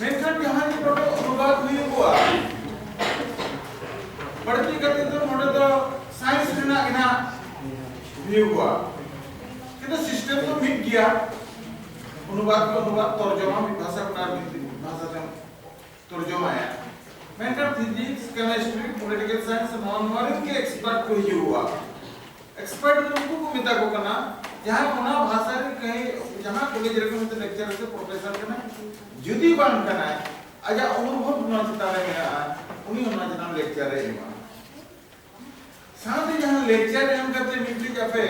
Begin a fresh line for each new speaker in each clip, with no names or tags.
ᱢᱮᱱᱠᱷᱟᱱ ᱡᱟᱦᱟᱸ ᱱᱤᱛ ᱱᱚᱰᱮ ᱚᱱᱩᱵᱟᱫ ᱦᱩᱭᱩᱜᱼᱟ ᱵᱟᱹᱲᱛᱤ ᱠᱟᱛᱮ ᱫᱚ ᱱᱚᱰᱮ ᱫᱚ ᱥᱟᱭᱮᱱᱥ ᱨᱮᱱᱟᱜ ᱜᱮ ᱱᱟᱜ ᱦᱩᱭᱩᱜᱼᱟ ᱠᱤᱱᱛᱩ ᱥᱤᱥᱴᱮᱢ ᱫᱚ ᱢᱤᱫ ᱜᱮᱭᱟ ᱚᱱᱩᱵᱟᱫ ᱠᱚ ᱚᱱᱩᱵᱟᱫ ᱛᱚᱨᱡᱚᱢᱟ ᱢᱤᱫ ᱵᱷᱟᱥᱟ ᱠᱷᱚᱱᱟᱜ ᱢᱤᱫ ᱵᱷᱟᱥᱟ ᱛᱮᱢ ᱛᱚᱨᱡᱚᱢᱟᱭᱟ ᱢᱮᱱᱠᱷᱟᱱ ᱯᱷᱤᱡᱤᱠᱥ ᱠᱮᱢᱤᱥᱴᱨᱤ ᱯᱚᱞᱤᱴᱤᱠᱟᱞ ᱥᱟᱭᱮᱱᱥ ᱱᱚᱣᱟ ᱱᱚᱣᱟ ᱨᱮᱱ ᱜᱮ ᱮᱠᱥᱯᱟᱨᱴ ᱠᱚ ᱦᱤᱡᱩᱜᱼᱟ ᱮᱠᱥᱯᱟᱨᱴ ᱫᱚ ᱩᱱᱠᱩ ᱠᱚ ᱢᱮᱛᱟ ᱠᱚ ᱠᱟᱱᱟ ᱡᱟᱦᱟᱸᱭ ᱚᱱᱟ ᱵᱷᱟᱥᱟ ᱨᱮ ᱠᱟᱹᱦᱤ ᱡᱟᱦᱟᱸ ᱠᱚᱞᱮᱡᱽ ᱨᱮ ᱩᱱᱤ ᱫᱚ ᱞᱮᱠᱪᱟᱨ ᱥᱮ ᱯᱨᱚᱯᱷᱮᱥᱚᱨ ᱠᱟᱱᱟᱭ ᱡᱩᱫᱤ ᱵᱟᱝ ᱠᱟᱱᱟᱭ ᱟᱡᱟᱜ ᱚᱱᱩᱵᱷᱚᱵ ᱱᱚᱣᱟ ᱪᱮᱛᱟᱱ ᱨᱮ ᱢᱮᱱᱟᱜᱼᱟ ᱩᱱᱤ ᱚᱱᱟ ᱪᱮᱛᱟᱱ ᱞᱮᱠᱪᱟᱨ ᱮ ᱮᱢᱟ ᱥᱟᱶᱛᱮ ᱡᱟᱦᱟᱸ ᱞᱮᱠᱪᱟᱨ ᱮᱢ ᱠᱟᱛᱮ ᱢᱤᱫᱴᱤᱡ ᱟᱯᱮ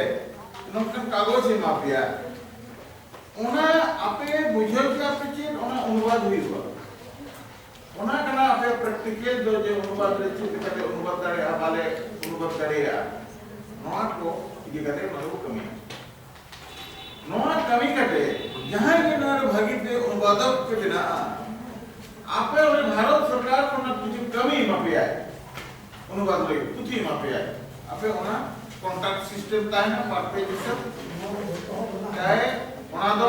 ᱱᱚᱝᱠᱟᱱ ᱠᱟᱜᱚᱡᱽ ᱮᱢᱟ ᱯᱮᱭᱟ ᱚᱱᱟ ᱟᱯᱮ ᱵᱩᱡᱷᱟᱹᱣ ᱠᱮᱫᱟ ᱯᱮ ᱪᱮᱫ ᱚᱱᱟ ᱚᱱᱩᱵᱟᱫ ᱦᱩᱭᱩᱜᱼᱟ ᱚᱱᱟ ᱠᱟᱱᱟ ᱟᱯᱮ ᱯᱨᱮᱠᱴᱤᱠᱮᱞ ᱫᱚ ᱡᱮ ᱚᱱᱩᱵᱟᱫ ᱨᱮ ᱪᱮᱫ ᱞᱮᱠᱟᱛᱮ ᱚᱱᱩᱵᱟᱫ ᱫᱟᱲᱮᱭᱟᱜᱼᱟ ᱵᱟᱞᱮ ᱚᱱᱩᱵᱟᱫ ᱫᱟᱲᱮᱭᱟᱜᱼᱟ ᱱᱚᱣᱟ ᱠᱚ ᱤᱫᱤ ᱠᱟᱛᱮ ᱚᱱᱟ ᱫᱚ ᱠᱟᱹᱢᱤᱭᱟ ᱱᱚᱣᱟ ᱠᱟᱹᱢᱤ ᱠᱟᱛᱮ ᱡᱟᱦᱟᱸᱭ ᱜᱮ ᱱᱚᱣᱟ ᱨᱮ ᱵᱷᱟᱹᱜᱤ ᱛᱮ ᱚᱱᱩᱵᱟᱫᱚᱠ ᱯᱮ ᱵᱮᱱᱟᱜᱼᱟ ᱟᱯᱮ ᱚᱱᱟ ᱵᱷᱟᱨᱚᱛ ᱥᱚᱨᱠᱟᱨ ᱚᱱᱟ ᱠᱤᱪᱷᱩ ᱠᱟᱹᱢᱤ ᱮᱢᱟ ᱯᱮᱭᱟᱭ ᱚᱱᱩᱵᱟᱫ ᱞᱟᱹᱜᱤᱫ ᱯᱩᱛᱷᱤ ᱮᱢᱟ ᱯᱮᱭᱟᱭ ᱟᱯᱮ ᱚᱱᱟ ᱠᱚᱱᱴᱟᱠᱴ ᱥᱤᱥᱴᱮᱢ ᱛᱟᱦᱮᱱᱟ ᱯᱟᱨᱴ ᱯᱮ ᱡᱤᱥᱮ ᱪᱟᱦᱮ ᱚᱱᱟ ᱫᱚ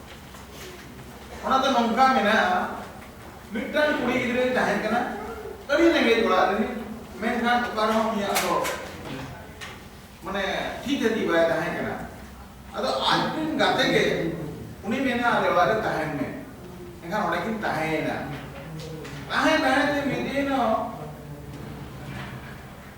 ᱚᱱᱟ ᱫᱚ ᱱᱚᱝᱠᱟ ᱢᱮᱱᱟᱜᱼᱟ ᱢᱤᱫᱴᱟᱝ ᱠᱩᱲᱤ ᱜᱤᱫᱽᱨᱟᱹᱭ ᱛᱟᱦᱮᱸ ᱠᱟᱱᱟ ᱟᱹᱰᱤ ᱨᱮᱸᱜᱮᱡ ᱚᱲᱟᱜ ᱨᱮ ᱢᱮᱱᱠᱷᱟᱱ ᱚᱠᱟ ᱨᱮᱦᱚᱸ ᱩᱱᱤᱭᱟᱜ ᱫᱚ ᱢᱟᱱᱮ ᱛᱷᱤ ᱛᱷᱟᱹᱛᱤ ᱵᱟᱭ ᱛᱟᱦᱮᱸ ᱠᱟᱱᱟ ᱟᱫᱚ ᱟᱡ ᱨᱮᱱ ᱜᱟᱛᱮ ᱜᱮ ᱩᱱᱤ ᱢᱮᱱᱟ ᱟᱞᱮ ᱚᱲᱟᱜ ᱨᱮ ᱛᱟᱦᱮᱱ ᱢᱮ ᱮᱱᱠᱷᱟᱱ ᱚᱸᱰᱮ ᱠᱤᱱ ᱛᱟᱦᱮᱸᱭᱮᱱᱟ ᱛᱟᱦᱮᱸ ᱛᱟᱦᱮᱸ ᱛᱮ ᱢᱤᱫ ᱫᱤᱱ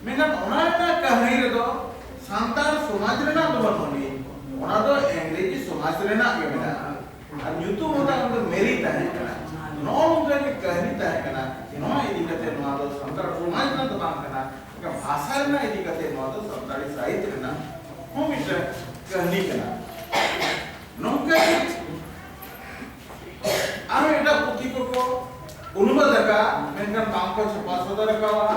ᱢᱮᱱᱠᱷᱟᱱ ᱚᱱᱟ ᱨᱮᱱᱟᱜ ᱠᱟᱹᱦᱱᱤ ᱨᱮᱫᱚ ᱥᱟᱱᱛᱟᱲ ᱥᱚᱢᱟᱡᱽ ᱨᱮᱱᱟᱜ ᱫᱚ ᱵᱟᱹᱱᱩᱜ ᱟᱹᱱᱤᱡ, ᱚᱱᱟ ᱫᱚ ᱤᱝᱨᱮᱡᱤ ᱥᱚᱢᱟᱡᱽ ᱨᱮᱱᱟᱜ ᱜᱮ ᱢᱮᱱᱟᱜᱼᱟ᱾ ᱟᱨ ᱧᱩᱛᱩᱢ ᱦᱚᱸ ᱛᱟᱭ ᱚᱱᱟ ᱫᱚ ᱢᱮᱨᱤ ᱛᱟᱦᱮᱸ ᱠᱟᱱᱟ᱾ ᱱᱚᱜᱼᱚ ᱱᱚᱝᱠᱟ ᱜᱮ ᱠᱟᱹᱦᱱᱤ ᱛᱟᱦᱮᱸ ᱠᱟᱱᱟ᱾ ᱱᱚᱣᱟ ᱤᱫᱤ ᱠᱟᱛᱮ ᱱᱚᱣᱟ ᱫᱚ ᱥᱟᱱᱛᱟᱲ ᱥᱚᱢᱟᱡᱽ ᱨᱮᱱᱟᱜ ᱫᱚ ᱵᱟᱝ ᱠᱟᱱᱟ, ᱢᱮᱱᱠᱷᱟᱱ ᱵᱷᱟᱥᱟ ᱨᱮᱱᱟᱜ ᱤᱫᱤ ᱠᱟᱛᱮ ᱱᱚᱣᱟ ᱫᱚ ᱥᱟᱱᱛᱟᱲᱤ ᱥᱟᱦᱤᱛ ᱨᱮᱱᱟᱜ ᱦᱚᱸ ᱢᱤᱫᱴᱟᱝ ᱠᱟᱹᱦᱱᱤ ᱠᱟᱱᱟ᱾ ᱱᱚᱝᱠᱟ ᱜᱮ ᱟᱨᱦᱚᱸ ᱮᱴᱟᱜ ᱯᱩᱛᱷᱤ ᱠᱚᱠᱚ ᱚᱱᱩᱵᱟᱫᱽ ᱟᱠᱟᱫᱼᱟ, ᱢᱮᱱᱠᱷᱟᱱ ᱵᱟᱝ ᱠᱚ ᱪᱷᱟᱯᱟ ᱥᱚᱫᱚᱨ ᱟᱠᱟᱫᱼᱟ᱾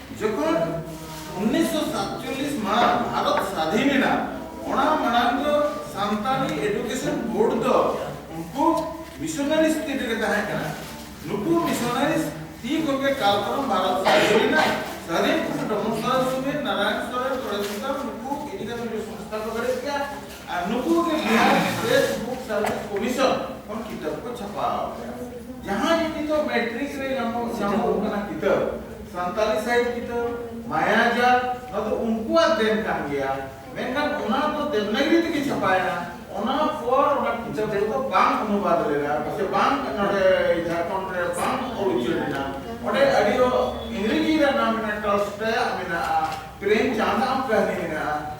ᱡᱚᱠᱷᱚᱱ ᱩᱱᱤᱥᱥᱚ ᱥᱟᱛᱪᱚᱞᱞᱤᱥ ᱢᱟᱦᱟ ᱵᱷᱟᱨᱚᱛ ᱥᱟᱫᱷᱤᱱ ᱮᱱᱟ ᱚᱱᱟ ᱢᱟᱲᱟᱝ ᱫᱚ ᱥᱟᱱᱛᱟᱲᱤ ᱮᱰᱩᱠᱮᱥᱚᱱ ᱵᱳᱨᱰ ᱫᱚ ᱩᱱᱠᱩ ᱢᱤᱥᱚᱱᱟᱨᱤᱥ ᱛᱤ ᱨᱮᱜᱮ ᱛᱟᱦᱮᱸ ᱠᱟᱱᱟ ᱱᱩᱠᱩ ᱢᱤᱥᱚᱱᱟᱨᱤᱥ ᱛᱤ ᱠᱚᱜᱮ ᱠᱟᱞ ᱯᱟᱨᱚᱢ ᱵᱷᱟᱨᱚᱛ ᱥᱟᱫᱷᱤᱱ ᱮᱱᱟ ᱥᱟᱫᱷᱤᱱ ᱠᱷᱚᱱ ᱰᱚᱢᱚᱱ ᱥᱚᱨᱮᱱ ᱥᱩᱢᱤᱨ ᱱᱟᱨᱟᱭᱚᱱ ᱥᱚᱨᱮᱱ ᱯᱚᱨᱮᱥ ᱥᱩᱛᱟᱢ ᱱᱩᱠᱩ ᱤᱫᱤ ᱠᱟᱛᱮ ᱢᱤᱫᱴᱮᱱ ᱥᱚᱝᱥᱛᱷᱟ ᱠᱚ ᱵᱮᱨᱮᱫ ᱠᱮᱫᱼᱟ ᱟᱨ ᱱᱩᱠᱩ ᱜᱮ Bihar state book service commission ᱠᱷᱚᱱ ᱠᱤᱛᱟᱹᱵ ᱠᱚ ᱪᱷᱟᱯᱟᱣ ᱟᱠᱟᱫᱟ ᱡᱟᱦᱟᱸ ᱜᱮ ᱱᱤᱛᱚᱜ ᱢᱮᱴᱨᱤᱠ ᱨᱮ ᱧᱟᱢᱚᱜ ᱧᱟᱢᱚᱜ ᱠᱟᱱᱟ ᱠᱤᱛᱟᱹᱵ ᱥᱟᱱᱛᱟᱲᱤ ᱥᱟᱦᱤᱛ ᱠᱤᱛᱟᱹᱵ ᱢᱟᱭᱟᱡᱟᱞ ᱱᱚᱣᱟ ᱫᱚ ᱩᱱᱠᱩᱣᱟᱜ ᱫᱮᱱ ᱠᱟᱱ ᱜᱮᱭᱟ ᱢᱮᱱᱠᱷᱟᱱ ᱚᱱᱟ ᱫᱚ ᱫᱮᱵᱽᱱᱟᱜᱨᱤ ᱛᱮᱜᱮ ᱪᱷᱟᱯᱟᱭᱮᱱᱟ ᱚᱱᱟ ᱯᱚᱨ ᱚᱱᱟ ᱠᱤᱛᱟᱹᱵ ᱫᱚ ᱵᱟᱝ ᱚᱱᱩᱵᱟᱫ ᱞᱮᱱᱟ ᱥᱮ ᱵᱟᱝ ᱱᱚᱰᱮ ᱡᱷᱟᱲᱠᱷᱚᱸᱰ ᱨᱮ ᱵᱟᱝ ᱚᱞ ᱩᱪᱟᱹᱲ ᱞᱮᱱᱟ ᱚᱸᱰᱮ ᱟᱹᱰᱤ ᱤᱝᱨᱮᱡᱤ ᱨᱮ ᱱᱟᱢ ᱢᱮᱱᱟᱜᱼᱟ ᱴᱚᱞᱥᱴᱚᱭᱟᱜ ᱢᱮᱱᱟᱜᱼᱟ ᱯᱨᱮᱢᱪᱟᱸᱫᱽ ᱟᱜ ᱠᱟᱹᱦᱱᱤ ᱢᱮᱱᱟᱜᱼᱟ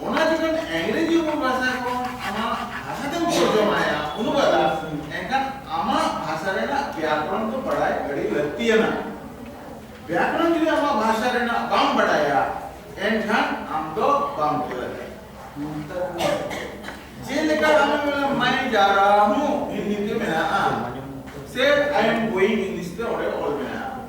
ᱚᱱᱟ ᱡᱚᱠᱷᱚᱱ ᱤᱝᱨᱮᱡᱤ ᱵᱚᱱ ᱵᱷᱟᱥᱟ ᱠᱚ ᱟᱢᱟᱜ ᱵᱷᱟᱥᱟ ᱛᱮᱢ ᱛᱚᱨᱡᱚᱢᱟ ᱟᱭᱟ ᱩᱱ ᱵᱟᱫᱟ ᱮᱱᱠᱷᱟᱱ ᱟᱢᱟᱜ ᱵᱷᱟᱥᱟ ᱨᱮᱱᱟᱜ ᱵᱮᱭᱟᱠᱚᱨᱚᱱ ᱫᱚ ᱵᱟᱰᱟᱭ ᱟᱹᱰᱤ ᱞᱟᱹᱠᱛᱤᱭᱟᱱᱟ ᱵᱮᱭᱟᱠᱚᱨᱚᱱ ᱡᱩᱫᱤ ᱟᱢᱟᱜ ᱵᱷᱟᱥᱟ ᱨᱮᱱᱟᱜ ᱵᱟᱢ ᱵᱟᱰᱟᱭᱟ ᱮᱱᱠᱷᱟᱱ ᱟᱢ ᱫᱚ ᱵᱟᱢ ᱛᱮᱞᱟ ᱡᱮᱞᱮᱠᱟ ᱟᱢ ᱢᱟᱭ ᱡᱟᱨᱟ ᱦᱩ ᱦᱤᱱᱫᱤ ᱛᱮ ᱢᱮᱱᱟᱜᱼᱟ ᱥᱮ ᱟᱭ ᱮᱢ ᱜᱳᱭᱤᱝ ᱤᱝᱞᱤᱥ ᱛᱮ ᱚᱸᱰᱮ ᱚᱞ ᱢᱮᱱᱟᱜᱼᱟ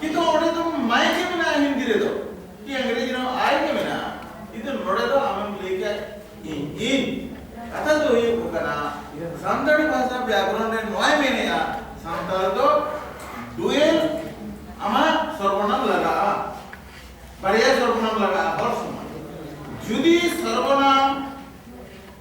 ᱠᱤᱱᱛᱩ ᱚᱸᱰᱮ ᱫᱚ ᱢᱟᱭ ᱜᱮ ᱢᱮᱱᱟᱜᱼᱟ ᱦᱤᱱᱫᱤ ᱨᱮᱫᱚ ᱠᱤ ᱤᱝᱨᱮᱡᱤ ᱨᱮᱦᱚᱸ ᱟᱭ ᱜᱮ ᱢᱮᱱᱟᱜᱼᱟ ᱠᱤᱱᱛᱩ ᱱᱚᱸᱰᱮ ᱫᱚ ᱟᱢᱮᱢ ᱞᱟᱹᱭ ᱠᱮᱫ ᱤᱧ ᱤᱧ ᱠᱟᱛᱷᱟ ᱫᱚ ᱦᱩᱭᱩᱜ ᱠᱟᱱᱟ ᱥᱟᱱᱛᱟᱲᱤ ᱵᱷᱟᱥᱟ ᱵᱮᱠᱨᱚᱱ ᱨᱮ ᱱᱚᱣᱟᱭ ᱢᱮᱱᱮᱜᱼᱟ ᱥᱟᱱᱛᱟᱲ ᱫᱚ ᱰᱩᱭᱮᱞ ᱟᱢᱟᱜ ᱥᱚᱨᱵᱚᱱᱟᱢ ᱞᱟᱜᱟᱜᱼᱟ ᱵᱟᱨᱭᱟ ᱥᱚᱨᱵᱚᱱᱟᱢ ᱞᱟᱜᱟᱜᱼᱟ ᱦᱚᱲ ᱥᱚᱢᱟᱡᱽ ᱡᱩᱫᱤ ᱥᱚᱨᱵᱚᱱᱟᱢ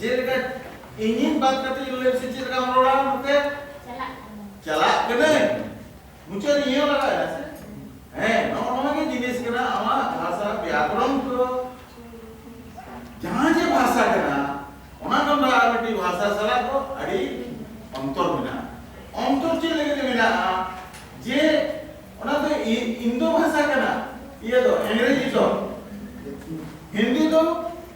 ᱡᱮᱞᱮᱠᱟ ᱤᱧᱤᱧ ᱵᱟᱫ ᱠᱟᱛᱮ ᱤᱧ ᱞᱟᱹᱭ ᱥᱮ ᱪᱮᱫ ᱞᱮᱠᱟᱢ ᱨᱚᱲᱟ ᱱᱚᱛᱮ ᱪᱟᱞᱟᱜ ᱪᱟᱞᱟᱜ ᱠᱟᱹᱱᱟᱹᱧ ᱢᱩᱪᱟᱹᱫ ᱤᱭᱟᱹ ᱞᱟᱜᱟᱜᱼᱟ ᱥᱮ ᱦᱮᱸ ᱱᱚᱜᱼᱚ ᱱᱚᱣᱟ ᱜᱮ ᱡᱤᱱᱤᱥ ᱠᱟᱱᱟ ᱟᱢᱟᱜ ᱵᱷᱟᱥᱟ ᱵᱮᱭᱟᱠᱚᱨᱚᱱ ᱠᱚ ᱡᱟᱦᱟᱸ ᱡᱮ ᱵᱷᱟᱥᱟ ᱠᱟᱱᱟ ᱚᱱᱟ ᱠᱷᱚᱱ ᱫᱚ ᱟᱨ ᱢᱤᱫᱴᱤᱡ ᱵᱷᱟᱥᱟ ᱥᱟᱞᱟᱜ ᱫᱚ ᱟᱹᱰᱤ ᱚᱱᱛᱚᱨ ᱢᱮᱱᱟᱜᱼᱟ ᱚᱱᱛᱚᱨ ᱪᱮᱫ ᱞᱟᱹᱜᱤᱫ ᱛᱮ ᱢᱮᱱᱟᱜᱼᱟ ᱡᱮ ᱚᱱᱟ ᱫᱚ ᱤᱱᱫᱳ ᱵᱷᱟᱥᱟ ᱠᱟᱱᱟ ᱤᱭᱟᱹ ᱫᱚ ᱤᱝᱨᱮᱡᱤ ᱫᱚ ᱦᱤᱱᱫᱤ ᱫᱚ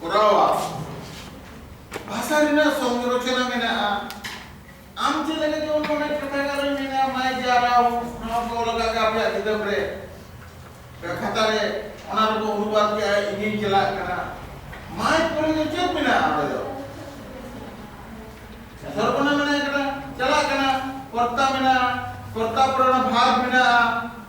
ᱠᱚᱨᱟᱣᱟ ᱵᱷᱟᱥᱟ ᱨᱮᱱᱟᱜ ᱥᱚᱝᱨᱚᱪᱚᱱᱟ ᱢᱮᱱᱟᱜᱼᱟ ᱟᱢ ᱪᱮᱫ ᱞᱮᱠᱟ ᱡᱮᱢᱚᱱ ᱚᱱᱟ ᱠᱟᱛᱷᱟ ᱜᱟᱞᱚᱪ ᱢᱮᱱᱟᱜᱼᱟ ᱢᱟᱭ ᱡᱟᱨᱟᱣ ᱱᱚᱣᱟ ᱠᱚ ᱞᱟᱜᱟᱜ ᱜᱮ ᱟᱯᱮᱭᱟᱜ ᱠᱤᱛᱟᱹᱵ ᱨᱮ ᱠᱷᱟᱛᱟ ᱨᱮ ᱚᱱᱟ ᱨᱮᱠᱚ ᱚᱱᱩᱵᱟᱫ ᱠᱮᱜᱼᱟ ᱤᱧᱤᱧ ᱪᱟᱞᱟᱜ ᱠᱟᱱᱟ ᱢᱟᱭ ᱠᱚᱨᱮ ᱫᱚ ᱪᱮᱫ ᱢᱮᱱᱟᱜᱼᱟ ᱚᱸᱰᱮ ᱫᱚ ᱥᱚᱨᱵᱚᱱᱟ ᱢᱮᱱᱟᱜ ᱠᱟᱱᱟ ᱪᱟᱞᱟᱜ ᱠᱟᱱᱟ ᱠᱚᱨᱛᱟ ᱢᱮᱱᱟᱜᱼᱟ ᱠᱚᱨᱛᱟ ᱯᱚᱨᱮ ᱚᱱᱟ ᱵᱷᱟᱨ ᱢᱮᱱᱟᱜᱼᱟ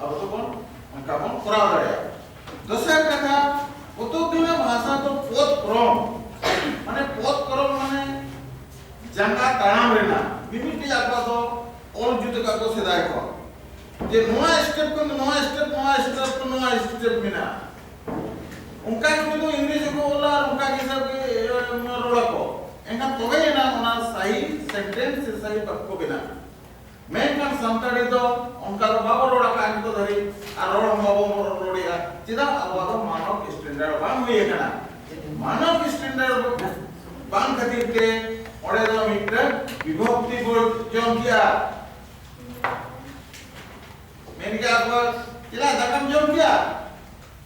ᱟᱵᱚ ᱫᱚᱵᱚᱱ ᱚᱱᱠᱟ ᱵᱚᱱ ᱠᱚᱨᱟᱣ ᱫᱟᱲᱮᱭᱟᱜᱼᱟ ᱫᱚᱥᱟᱨ ᱠᱟᱛᱷᱟ ᱯᱚᱛᱚᱵ ᱵᱮᱱᱟᱣ ᱵᱷᱟᱥᱟ ᱫᱚ ᱯᱚᱫ ᱠᱨᱚᱢ ᱢᱟᱱᱮ ᱯᱚᱫ ᱠᱨᱚᱢ ᱢᱟᱱᱮ ᱡᱟᱸᱜᱟ ᱛᱟᱲᱟᱢ ᱨᱮᱱᱟᱜ ᱢᱤᱢᱤᱫᱴᱤᱡ ᱟᱠᱚᱣᱟᱜ ᱫᱚ ᱚᱞ ᱡᱩᱛ ᱟᱠᱟᱫ ᱠᱚ ᱥᱮᱫᱟᱭ ᱠᱚ ᱡᱮ ᱱᱚᱣᱟ ᱥᱴᱮᱯ ᱠᱷᱚᱱ ᱱᱚᱣᱟ ᱥᱴᱮᱯ ᱱᱚᱣᱟ ᱥᱴᱮᱯ ᱠᱷᱚᱱ ᱱᱚᱣᱟ ᱥᱴᱮᱯ ᱢᱮᱱᱟᱜᱼᱟ ᱚᱱᱠᱟ ᱜᱮ ᱩᱱᱤ ᱫᱚ ᱤᱝᱨᱮᱡᱤ ᱠᱚ ᱚᱞᱟ ᱟᱨ ᱚᱱᱠᱟ ᱜᱮ ᱦᱤᱥᱟᱹᱵ ᱜᱮ ᱨᱚᱲᱟᱠᱚ ᱮᱱᱠᱷᱟᱱ ᱛᱚᱵᱮ ᱮᱱᱟᱝ ᱚᱱᱟ ᱥᱟᱦᱤ ᱥᱮᱱᱴᱮᱱᱥ ᱥᱮ ᱥᱟᱦᱤ ᱵᱟᱠᱠᱚ ᱵᱮᱱᱟᱜᱼᱟ ᱢᱮᱱᱠᱷᱟᱱ ᱥᱟᱱᱛᱟᱲᱤ ᱫᱚ ᱚᱱᱠᱟ ᱫᱚ ᱵᱟᱵᱚ ᱨᱚᱲ ᱟᱠᱟᱫᱼᱟ ᱱᱤᱛᱚᱜ ᱫᱷᱟᱹᱨᱤᱡ ᱟᱨ ᱨᱚᱲ ᱦᱚᱸ ᱵᱟᱵᱚ ᱨᱚᱲᱮᱫᱼᱟ ᱪᱮᱫᱟᱜ ᱟᱵᱚᱣᱟᱜ ᱫᱚ ᱢᱟᱱᱚᱠ ᱥᱴᱮᱱᱰᱟᱨᱰ ᱵᱟᱝ ᱦᱩᱭ ᱟᱠᱟᱱᱟ ᱢᱟᱱᱚᱠ ᱥᱴᱮᱱᱰᱟᱨᱰ ᱵᱟᱝ ᱠᱷᱟᱹᱛᱤᱨ ᱛᱮ ᱚᱸᱰᱮ ᱫᱚ ᱢᱤᱫᱴᱟᱝ ᱵᱤᱵᱷᱚᱠᱛᱤ ᱵᱚ ᱡᱚᱢ ᱠᱮᱜᱼᱟ ᱢᱮᱱ ᱠᱮᱜᱼᱟ ᱠᱚ ᱪᱮᱫᱟᱜ ᱫᱟᱠᱟᱢ ᱡᱚᱢ ᱠᱮᱜᱼᱟ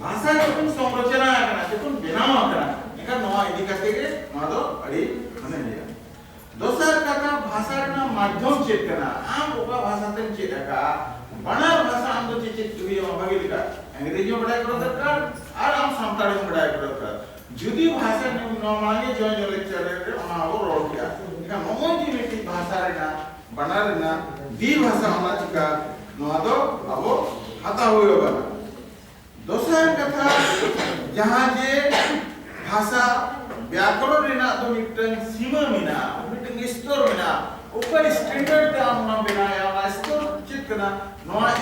ᱵᱷᱟᱥᱟ ᱡᱚᱠᱷᱚᱱ ᱥᱚᱝᱨᱚᱪᱚᱱᱟ ᱟᱠᱟᱱᱟ ᱡᱚᱠᱷᱚᱱ ᱵᱮᱱᱟᱣ ᱟᱠᱟᱱᱟ ᱮᱱᱠᱷᱟᱱ ᱱᱚᱣᱟ ᱤᱫᱤ ᱠᱟᱛᱮ ᱜᱮ ᱱᱚᱣᱟ ᱫᱚ ᱟᱹᱰᱤ ᱢᱟᱱᱮ ᱤᱭᱟᱹ ᱫᱚᱥᱟᱨ ᱠᱟᱛᱷᱟ ᱵᱷᱟᱥᱟ ᱨᱮᱱᱟᱜ ᱢᱟᱫᱽᱫᱷᱚᱢ ᱪᱮᱫ ᱠᱟᱱᱟ ᱟᱢ ᱚᱠᱟ ᱵᱷᱟᱥᱟ ᱛᱮᱢ ᱪᱮᱫ ᱟᱠᱟᱜᱼᱟ ᱵᱟᱱᱟᱨ ᱵᱷᱟᱥᱟ ᱟᱢ ᱫᱚ ᱪᱮᱫ ᱪᱮᱫ ᱦᱩᱭᱩᱜᱼᱟ ᱵᱷᱟᱜᱮ ᱞᱮᱠᱟ ᱤᱝᱨᱮᱡᱤ ᱦᱚᱸ ᱵᱟᱰᱟᱭ ᱠᱚᱨᱟᱣ ᱫᱚᱨᱠᱟᱨ ᱟᱨ ᱟᱢ ᱥᱟᱱᱛᱟᱲᱤ ᱦᱚᱸ ᱵᱟᱰᱟᱭ ᱠᱚᱨᱟᱣ ᱫᱚᱨᱠᱟᱨ ᱡᱩᱫᱤ ᱵᱷᱟᱥᱟ ᱱᱚᱣᱟ ᱢᱟᱲᱟᱝ ᱜᱮ ᱡᱚᱭ ᱡᱚᱭ ᱞᱮᱠᱪᱟᱨ ᱨᱮ ᱚᱱᱟ ᱦᱚᱸ ᱨᱚᱲ ᱠᱮᱜᱼᱟ ᱮᱱᱠᱷᱟᱱ ᱱᱚᱜᱼᱚᱭ ᱡᱮ ᱢᱤᱫᱴᱤᱡ ᱵᱷᱟᱥᱟ ᱨᱮᱱᱟᱜ ᱵᱟᱱᱟᱨ ᱨᱮᱱᱟᱜ ᱫᱤ ᱵᱷᱟᱥᱟ ᱚᱱᱟ ᱪᱤᱠᱟ ᱱᱚᱣᱟ ᱫᱚ ᱟᱵᱚ ᱦᱟᱛᱟᱣ ᱦᱩᱭ ᱟᱵᱚᱱᱟ ᱫᱚᱥᱟᱨ ᱠᱟᱛᱷᱟ ᱡᱟᱦᱟᱸ ᱡᱮ ᱵᱷᱟᱥᱟ ᱵᱮᱠᱚᱨᱚᱱ ᱨᱮᱱᱟᱜ ᱫᱚ ᱢᱤᱫᱴᱟᱝ ᱥᱤᱢᱟᱹ ᱢᱮᱱᱟᱜᱼᱟ ᱢᱤᱫᱴᱟᱝ ᱥᱛᱚᱨ ᱢᱮᱱᱟᱜᱼᱟ ᱚᱠᱟ ᱥᱴᱮᱱᱰᱟᱨᱰ ᱛᱮ ᱟᱢ ᱚᱱᱟᱢ ᱵᱮᱱᱟᱣᱮᱫᱼᱟ ᱚᱱᱟ ᱥᱛᱚᱨ ᱪᱮᱫ ᱠᱟᱱᱟ ᱱᱚᱣᱟ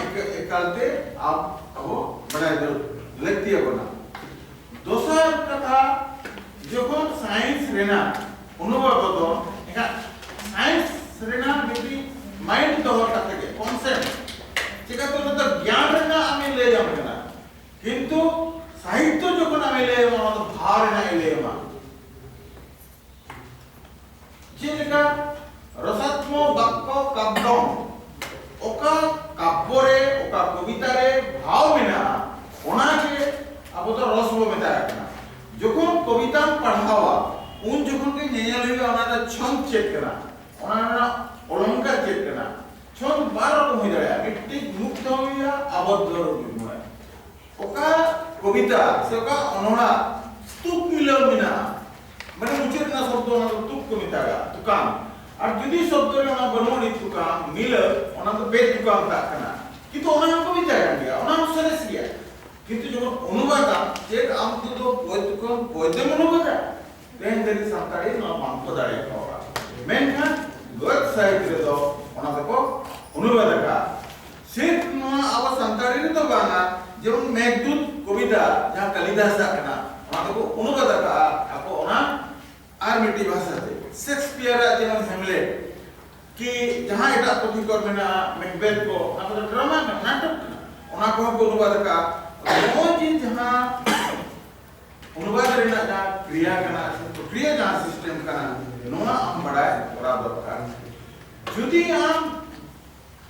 ᱮᱠᱟᱞᱛᱮ ᱟᱵᱚ ᱵᱟᱰᱟᱭ ᱫᱚ ᱞᱟᱹᱠᱛᱤ ᱟᱵᱚᱱᱟ ᱫᱚᱥᱟᱨ ᱠᱟᱛᱷᱟ ᱡᱚᱠᱷᱚᱱ ᱥᱟᱭᱮᱱᱥ ᱨᱮᱱᱟᱜ ᱚᱱᱩᱵᱟᱫ ᱫᱚ ᱮᱱᱠᱷᱟᱱ ᱥᱟᱭᱮᱱᱥ ᱨᱮᱱᱟᱜ ᱢᱤᱫᱴᱤᱡ ᱢᱟᱭᱤᱱᱰ ᱫᱚᱦᱚ ᱠᱟᱛᱮ ᱜᱮ ᱠᱚᱱᱥᱮᱯᱴ ᱪᱮᱠᱟᱛᱮ ᱚᱱᱟ ᱫᱚ ᱜᱮᱭᱟᱱ ᱨᱮᱱᱟᱜ ᱟᱢᱮ ᱞᱟᱹᱭ ᱟᱢ ᱠᱟᱱᱟ ᱠᱤᱱᱛᱩ ᱥᱟᱦᱤᱛᱛᱚ ᱡᱚᱠᱷᱚᱱ ᱟᱢᱮ ᱞᱟᱹᱭ ᱟᱢᱟ ᱚᱱᱟ ᱫᱚ ᱵᱷᱟᱣ ᱨᱮᱱᱟᱜ ᱮ ᱞᱟᱹᱭ ᱟᱢᱟ ᱪᱮᱫ ᱞᱮᱠᱟ ᱨᱚᱥᱟᱛᱢᱚ ᱵᱟᱠᱠᱚ ᱠᱟᱵᱽᱫᱚ ᱚᱠᱟ ᱠᱟᱵᱽᱵᱚ ᱨᱮ ᱚᱠᱟ ᱠᱚᱵᱤᱛᱟ ᱨᱮ ᱵᱷᱟᱣ ᱢᱮᱱᱟᱜᱼᱟ ᱚᱱᱟ ᱜᱮ ᱟᱵᱚ ᱫᱚ ᱨᱚᱥ ᱵᱚ ᱢᱮᱛᱟᱜ ᱠᱟᱱᱟ ᱡᱚᱠᱷᱚᱱ ᱠᱚᱵᱤᱛᱟᱢ ᱯᱟᱲᱦᱟᱣᱟ ᱩᱱ ᱡᱚᱠᱷᱚᱱ ᱜᱮ ᱧᱮᱧᱮᱞ ᱦᱩᱭᱩᱜᱼᱟ ᱚᱱᱟ ᱨᱮ ᱪᱷᱚᱱᱫ ᱪᱮᱫ ᱠᱟᱱᱟ ᱚᱱᱟ ᱨᱮᱱᱟᱜ ᱚᱞᱚᱝᱠᱟᱨ ᱪᱮᱫ ᱠᱟᱱᱟ ᱪᱷᱚᱱᱫ ᱵᱟᱨ ᱨᱚᱠᱚᱢ ᱦᱩᱭ ᱫᱟᱲᱮᱭᱟᱜᱼᱟ ᱢᱤᱫᱴᱤᱡ ᱢᱩᱠᱛᱚ ᱦᱩᱭᱩᱜᱼᱟ ᱟᱵᱚᱫᱽᱫᱷᱚ ᱨᱩᱯ ᱦᱩᱭᱩᱜᱼᱟ ᱚᱠᱟ ᱠᱚᱵᱤᱛᱟ ᱥᱮ ᱚᱠᱟ ᱚᱱᱚᱬᱟ ᱛᱩᱠ ᱢᱤᱞᱟᱹᱣ ᱢᱮᱱᱟᱜᱼᱟ ᱢᱟᱱᱮ ᱢᱩᱪᱟᱹᱫ ᱨᱮᱱᱟᱜ ᱥᱚᱵᱫᱚ ᱚᱱᱟ ᱫᱚ ᱛᱩᱠ ᱠᱚ ᱢᱮᱛᱟᱜᱟ ᱛᱩᱠᱟᱢ ᱟᱨ ᱡᱩᱫᱤ ᱥᱚᱵᱫᱚ ᱨᱮ ᱚᱱᱟ ᱵᱟᱹᱱᱩᱜ ᱟᱹᱱᱤᱡ ᱛᱩᱠᱟᱢ ᱢᱤᱞᱟᱹ ᱚᱱᱟ ᱫᱚ ᱵᱮᱫ ᱛᱩᱠᱟᱢ ᱢᱮᱛᱟᱜ ᱠᱟᱱᱟ ᱠᱤᱱᱛᱩ ᱚᱱᱟ ᱦᱚᱸ ᱠᱚ ᱢᱮᱛᱟᱜ ᱠᱟᱱ ᱜᱮᱭᱟ ᱚᱱᱟ ᱦᱚᱸ ᱥᱚᱨᱮᱥ ᱜᱮᱭᱟ ᱠᱤᱱᱛᱩ ᱡᱚᱠᱷᱚᱱ ᱚᱱᱩᱵᱟᱫᱟ ᱪᱮᱫ ᱟᱢ ᱫᱚ ᱫᱚ ᱵᱳᱭ ᱛᱩᱠᱟᱢ ᱵᱳᱭ ᱫᱚᱢ ᱚᱱᱩᱵᱟᱫᱟ ᱛᱮᱦᱮᱧ ᱫᱷᱟᱹᱨᱤᱡ ᱥᱟᱱᱛᱟᱲᱤ ᱱᱚᱣᱟ ᱵᱟᱝ ᱠᱚ ᱫᱟᱲᱮ ᱠᱟᱣᱟ ᱢᱮᱱᱠᱷᱟᱱ ᱜᱚᱫ ᱥᱟᱦᱤᱛ ᱨᱮᱫᱚ ᱚᱱᱟ ᱫᱚᱠᱚ ᱚᱱᱩᱵᱟᱫ ᱟᱠᱟᱫ ᱥᱮᱴ ᱱᱚᱣᱟ ᱟᱵᱚ ᱥᱟᱱᱛᱟᱲᱤ ᱨᱮᱫᱚ ᱵᱟᱝᱟ ᱡᱮᱢᱚᱱ ᱢᱮᱜᱷᱫᱩᱛ ᱠᱚᱵᱤᱛᱟ ᱡᱟᱦᱟᱸ ᱠᱟᱞᱤᱫᱟᱥ ᱟᱜ ᱠᱟᱱᱟ ᱚᱱᱟ ᱫᱚᱠᱚ ᱚᱱᱩᱵᱟᱫ ᱟᱠᱟᱜᱼᱟ ᱟᱠᱚ ᱚᱱᱟ ᱟᱨ ᱢᱤᱫᱴᱤᱡ ᱵᱷᱟᱥᱟ ᱛᱮ ᱥᱮᱠᱥᱯᱤᱭᱟᱨ ᱟᱜ ᱡᱮᱢᱚᱱ ᱦᱮᱢᱞᱮᱴ ᱠᱤ ᱡᱟᱦᱟᱸ ᱮᱴᱟᱜ ᱯᱩᱛᱷᱤ ᱠᱚ ᱢᱮᱱᱟᱜᱼᱟ ᱢᱮᱠᱵᱮᱛ ᱠᱚ ᱚᱱᱟ ᱠᱚᱫᱚ ᱰᱨᱟᱢᱟ ᱠᱟᱱᱟ ᱱᱟᱴᱚᱠ ᱠᱟᱱᱟ ᱚᱱᱟ ᱠᱚᱦᱚᱸ ᱠᱚ ᱚᱱᱩᱵᱟᱫ ᱟᱠᱟᱜᱼᱟ ᱱᱚᱜᱼᱚᱭ ᱡᱮ ᱡᱟᱦᱟᱸ ᱚᱱᱩᱵᱟᱫ ᱨᱮᱱᱟᱜ ᱡᱟᱦᱟᱸ ᱠᱨᱤᱭᱟ ᱠᱟᱱᱟ ᱥᱮ ᱯᱨᱚᱠᱨᱤᱭᱟ ᱡᱟᱦᱟᱸ ᱥᱤᱥᱴᱮᱢ ᱠᱟᱱᱟ ᱱᱚᱣᱟ ᱟᱢ ᱵᱟᱰᱟᱭ ᱠᱚᱨᱟᱣ ᱫᱚᱨᱠᱟᱨ ᱡᱩᱫᱤ ᱟᱢ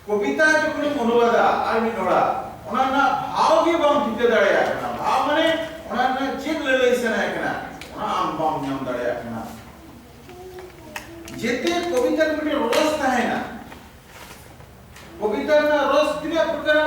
ᱠᱚᱵᱤᱛᱟ ᱡᱚᱠᱷᱚᱱᱮᱢ ᱚᱱᱩᱵᱟᱫᱟ ᱟᱨ ᱢᱤᱫ ᱦᱚᱲᱟᱜ ᱚᱱᱟ ᱨᱮᱱᱟᱜ ᱵᱷᱟᱣ ᱜᱮ ᱵᱟᱢ ᱴᱷᱤᱠᱟᱹ ᱫᱟᱲᱮᱭᱟᱜ ᱠᱟᱱᱟ᱾ ᱵᱷᱟᱣ ᱢᱟᱱᱮ ᱚᱱᱟ ᱨᱮᱱᱟᱜ ᱪᱮᱫ ᱞᱟᱹᱞᱟᱹᱭ ᱥᱟᱱᱟᱭᱮ ᱠᱟᱱᱟ ᱚᱱᱟ ᱟᱢ ᱵᱟᱢ ᱧᱟᱢ ᱫᱟᱲᱮᱭᱟᱜ ᱠᱟᱱᱟ᱾ ᱡᱮᱛᱮ ᱠᱚᱵᱤᱛᱟ ᱨᱮ ᱢᱤᱫᱴᱮᱱ ᱨᱚᱥ ᱛᱟᱦᱮᱱᱟ᱾ ᱠᱚᱵᱤᱛᱟ ᱨᱮᱱᱟᱜ ᱨᱚᱥ ᱛᱤᱱᱟᱹᱜ ᱯᱨᱚᱠᱟᱨᱟ?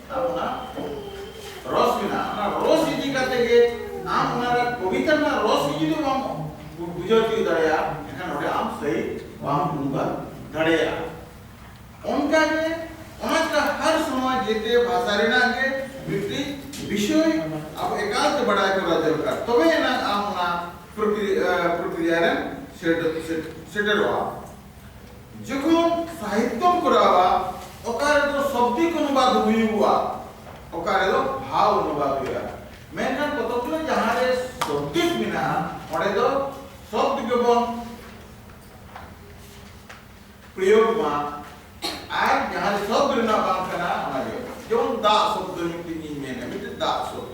ᱟᱨ ᱚᱱᱟ ᱨᱚᱥ ᱢᱮᱱᱟᱜᱼᱟ ᱚᱱᱟ ᱨᱚᱥ ᱤᱫᱤ ᱠᱟᱛᱮ ᱜᱮ ᱟᱢ ᱚᱱᱟ ᱨᱮ ᱠᱚᱵᱤᱛᱟ ᱨᱮᱱᱟᱜ ᱨᱚᱥ ᱜᱮ ᱡᱩᱫᱤ ᱵᱟᱢ ᱵᱩᱡᱷᱟᱹᱣ ᱛᱤᱭᱳᱜ ᱫᱟᱲᱮᱭᱟᱜᱼᱟ ᱮᱱᱠᱷᱟᱱ ᱚᱸᱰᱮ ᱟᱢ ᱥᱟᱹᱦᱤ ᱵᱟᱢ ᱩᱰᱩᱠᱟ ᱫᱟᱲᱮᱭᱟᱜᱼᱟ ᱚᱱᱠᱟ ᱜᱮ ᱚᱱᱟ ᱪᱮᱫᱟᱜ ᱦᱟᱨ ᱥᱚᱢᱚᱭ ᱡᱮᱛᱮ ᱵᱷᱟᱥᱟ ᱨᱮᱱᱟᱜ ᱜᱮ ᱢᱤᱫᱴᱤᱡ ᱵᱤᱥᱚᱭ ᱟᱵᱚ ᱮᱠᱟᱞ ᱛᱮ ᱵᱟᱰᱟᱭ ᱠᱚᱨᱟᱣ ᱫᱚᱨᱠᱟᱨ ᱛᱚᱵᱮ ᱮᱱᱟᱝ ᱟᱢ ᱚᱱᱟ ᱯᱨᱚᱠᱨᱤᱭᱟ ᱨᱮ ᱥᱮᱴᱮᱨᱚᱜᱼᱟ ᱡᱚᱠᱷᱚᱱ ᱥᱟᱦᱤᱛᱛᱚᱢ ᱠᱚᱨᱟᱣᱟ ᱚᱠᱟ ᱨᱮᱫᱚ ᱥᱚᱵᱫᱤᱠ ᱚᱱᱩᱵᱟᱫ ᱦᱩᱭᱩᱜᱼᱟ ᱚᱠᱟ ᱨᱮᱫᱚ ᱵᱷᱟᱣ ᱚᱱᱩᱵᱟᱫ ᱦᱩᱭᱩᱜᱼᱟ ᱢᱮᱱᱠᱷᱟᱱ ᱯᱚᱛᱚᱵ ᱨᱮ ᱡᱟᱦᱟᱸ ᱨᱮ ᱥᱚᱵᱫᱤᱠ ᱢᱮᱱᱟᱜᱼᱟ ᱚᱸᱰᱮ ᱫᱚ ᱥᱚᱵᱫ ᱜᱮᱵᱚᱱ ᱯᱨᱚᱭᱳᱜᱽ ᱢᱟ ᱟᱨ ᱡᱟᱦᱟᱸ ᱨᱮ ᱥᱚᱵᱫ ᱨᱮᱱᱟᱜ ᱵᱟᱝ ᱠᱟᱱᱟ ᱚᱱᱟ ᱜᱮ ᱡᱮᱢᱚᱱ ᱫᱟᱜ ᱥᱚᱵᱫ ᱢᱤᱫᱴᱤᱡ ᱤᱧ ᱢᱮᱱᱟ ᱢᱤᱫᱴᱤᱡ ᱫᱟᱜ ᱥᱚᱵᱫ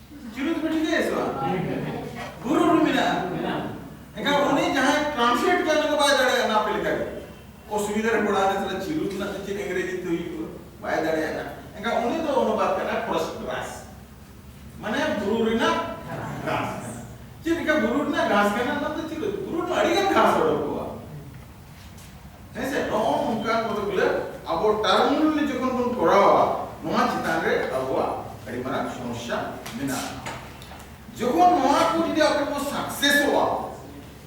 ᱪᱩᱨᱩᱡ ᱯᱮ ᱴᱷᱤᱠᱟᱹᱭᱟ ᱥᱮ ᱵᱟᱝ ᱜᱩᱨᱩ ᱨᱩ ᱢᱮᱱᱟᱜᱼᱟ ᱮᱱᱠᱷᱟᱱ ᱩᱱᱤ ᱡᱟᱦᱟᱸᱭ ᱴᱨᱟᱱᱥᱞᱮᱴ ᱠᱟᱜ ᱚᱱᱟ ᱫᱚ ᱵᱟᱭ ᱫᱟᱲᱮᱭᱟᱜᱼᱟ ᱚᱱᱟ ᱟᱯᱮ ᱞᱮᱠᱟ ᱜᱮ ᱚᱥᱩᱵᱤᱫᱷᱟ ᱨᱮ ᱯᱟᱲᱟᱣ ᱮᱱᱟ ᱛᱟᱦᱞᱮ ᱪᱤᱨᱩ ᱨᱮᱱᱟᱜ ᱫᱚ ᱪᱮᱫ ᱤᱝᱨᱮᱡᱤ ᱛᱮ ᱦᱩᱭᱩᱜᱼᱟ ᱵᱟᱭ ᱫᱟᱲᱮᱭᱟᱜᱼᱟ ᱮᱱᱠᱷᱟᱱ ᱩᱱᱤ ᱫᱚ ᱚᱱᱩᱵᱟᱫ ᱠᱟᱱᱟ ᱠᱨᱚᱥ ᱜᱨᱟᱥ ᱢᱟᱱᱮ ᱵᱩᱨᱩ ᱨᱮᱱᱟᱜ ᱜᱷᱟᱥ ᱪᱮᱫ ᱞᱮᱠᱟ ᱵᱩᱨᱩ ᱨᱮᱱᱟᱜ ᱜᱷᱟᱥ ᱠᱟᱱᱟ ᱚᱱᱟ ᱫᱚ ᱪᱤᱨᱩ ᱵᱩᱨᱩ ᱨᱮ ᱟᱹᱰᱤ ᱜᱟᱱ ᱜᱷᱟᱥ ᱚᱰᱚᱠᱚᱜᱼᱟ ᱦᱮᱸᱥᱮ ᱱᱚᱜᱼᱚ ᱱᱚᱝᱠᱟᱱ ᱠᱚᱫᱚ ᱵᱚᱞᱮ ᱟᱵᱚ ᱴᱟᱨᱢᱩᱞ ᱡᱚᱠᱷᱚᱱ ᱵᱚᱱ ᱠᱚᱨᱟᱣᱟ ᱱᱚᱣᱟ ᱪᱮᱛᱟᱱ ᱨᱮ ᱟᱵᱚᱣᱟᱜ ᱟᱹᱰᱤ ᱢᱟᱨᱟᱝ ᱥᱚᱢᱚᱥᱥᱟ ᱢᱮᱱᱟᱜᱼᱟ ᱡᱚᱠᱷᱚᱱ ᱱᱚᱣᱟ ᱠᱚ ᱡᱩᱫᱤ ᱟᱵᱚ ᱵᱚ ᱥᱟᱠᱥᱮᱥᱚᱜᱼᱟ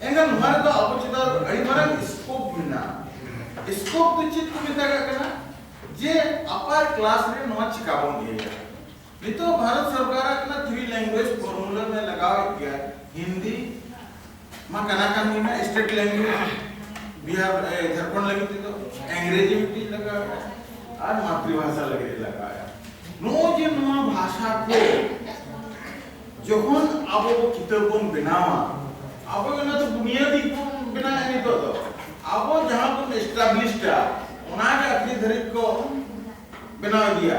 ᱮᱱᱠᱷᱟᱱ ᱱᱚᱣᱟ ᱨᱮᱫᱚ ᱟᱵᱚ ᱪᱮᱛᱟᱱ ᱨᱮ ᱟᱹᱰᱤ ᱢᱟᱨᱟᱝ ᱥᱠᱳᱯ ᱢᱮᱱᱟᱜᱼᱟ ᱥᱠᱳᱯ ᱫᱚ ᱪᱮᱫ ᱠᱚ ᱢᱮᱛᱟᱜ ᱠᱟᱱᱟ ᱡᱮ ᱟᱯᱟᱨ ᱠᱞᱟᱥ ᱨᱮ ᱱᱚᱣᱟ ᱪᱤᱠᱟ ᱵᱚᱱ ᱤᱭᱟᱹᱭᱟ ᱱᱤᱛᱚᱜ ᱵᱷᱟᱨᱚᱛ ᱥᱚᱨᱠᱟᱨ ᱟᱠᱟᱱᱟ ᱛᱷᱨᱤ ᱞᱮᱝᱜᱩᱭᱮᱡᱽ ᱯᱷᱚᱨᱢᱩᱞᱟ ᱢᱮ ᱞᱟᱜᱟᱣᱮᱫ ᱜᱮᱭᱟ ᱦᱤᱱᱫᱤ ᱢᱟ ᱠᱟᱱᱟ ᱠᱟᱱ ᱜᱮ ᱢᱮᱱᱟᱜ ᱥᱴᱮᱴ ᱞᱮᱝᱜᱩᱭᱮᱡᱽ ᱵᱤᱦᱟᱨ ᱡᱷᱟᱲᱠᱷᱚᱸᱰ ᱞᱟᱹᱜᱤᱫ ᱛᱮᱫᱚ ᱤᱝᱨᱮᱡᱤ ᱢᱤᱫᱴᱤᱡ ᱞᱟᱜᱟᱣᱮᱫᱟ ᱟᱨ ᱢᱟᱛᱨᱤᱵᱷᱟᱥᱟ ᱞᱟᱹᱜᱤᱫ ᱞᱟᱜᱟᱣᱮᱫᱟ ᱱᱚᱜᱼᱚᱭ ᱡᱮ ᱱᱚᱣᱟ ᱵᱷᱟᱥᱟ ᱠᱚ ᱡᱚᱠᱷᱚᱱ ᱟᱵᱚ ᱠᱤᱛᱟᱹᱵ ᱵᱚᱱ ᱵᱮᱱᱟᱣᱟ ᱟᱵᱚ ᱚᱱᱟ ᱫᱚ ᱵᱩᱱᱤᱭᱟᱹᱫᱤ ᱵᱚᱱ ᱵᱮᱱᱟᱣᱟ ᱱᱤᱛᱚᱜ ᱫᱚ ᱟᱵᱚ ᱡᱟᱦᱟᱸ ᱵᱚᱱ ᱮᱥᱴᱟᱵᱞᱤᱥᱰᱟ ᱚᱱᱟᱜᱮ ᱟᱹᱠᱷᱤᱨ ᱫᱷᱟᱹᱨᱤᱡ ᱠᱚ ᱵᱮᱱᱟᱣ ᱤᱫᱤᱭᱟ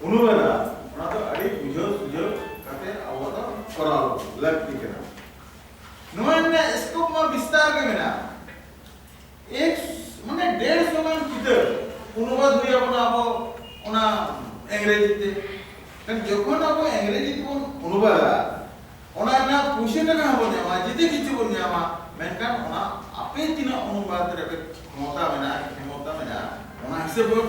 ᱩᱱᱩᱢ ᱮᱫᱟ ᱚᱱᱟ ᱫᱚ ᱟᱹᱰᱤ ᱵᱩᱡᱷᱟᱹᱣ ᱥᱩᱡᱷᱟᱹᱣ ᱠᱟᱛᱮ ᱟᱵᱚ ᱫᱚ ᱠᱚᱨᱟᱣ ᱞᱟᱹᱠᱛᱤ ᱠᱟᱱᱟ ᱱᱚᱣᱟ ᱨᱮᱱᱟᱜ ᱥᱠᱳᱯ ᱢᱟ ᱵᱤᱥᱛᱟᱨ ᱜᱮ ᱢᱮᱱᱟᱜᱼᱟ ᱮᱠ ᱢᱟᱱᱮ ᱰᱮᱲ ᱥᱚ ᱜᱟᱱ ᱪᱤᱛᱟᱹᱨ ᱚᱱᱩᱵᱟᱫ ᱦᱩᱭ ᱟᱵᱚᱱᱟ ᱟᱵᱚ ᱚᱱᱟ ᱤᱝᱨᱮᱡᱤ ᱛᱮ ᱢᱮᱱ ᱡᱚᱠᱷᱚᱱ ᱟᱵᱚ ᱤᱝᱨᱮᱡᱤ ᱛᱮᱵᱚᱱ ᱚᱱᱩᱵᱟᱫᱟ ᱚᱱᱟ ᱨᱮᱱᱟᱜ ᱯᱩᱭᱥᱟᱹ ᱴᱟᱠᱟ ᱦᱚᱸᱵᱚᱱ ᱧᱟᱢᱟ ᱡᱩᱫᱤ ᱠᱤᱪᱷᱩ ᱵᱚᱱ ᱧᱟᱢᱟ ᱢᱮᱱᱠᱷᱟᱱ ᱚᱱᱟ ᱟᱯᱮ ᱛᱤᱱᱟᱹᱜ ᱚᱱᱩᱵᱟᱫ ᱨᱮᱯᱮ ᱠᱷᱚᱢᱚᱛᱟ ᱢᱮᱱᱟᱜᱼᱟ ᱠᱷᱚᱢᱚᱛᱟ ᱢᱮᱱᱟᱜᱼᱟ ᱚᱱᱟ ᱦᱤᱥᱟᱹᱵ ᱵᱚᱱ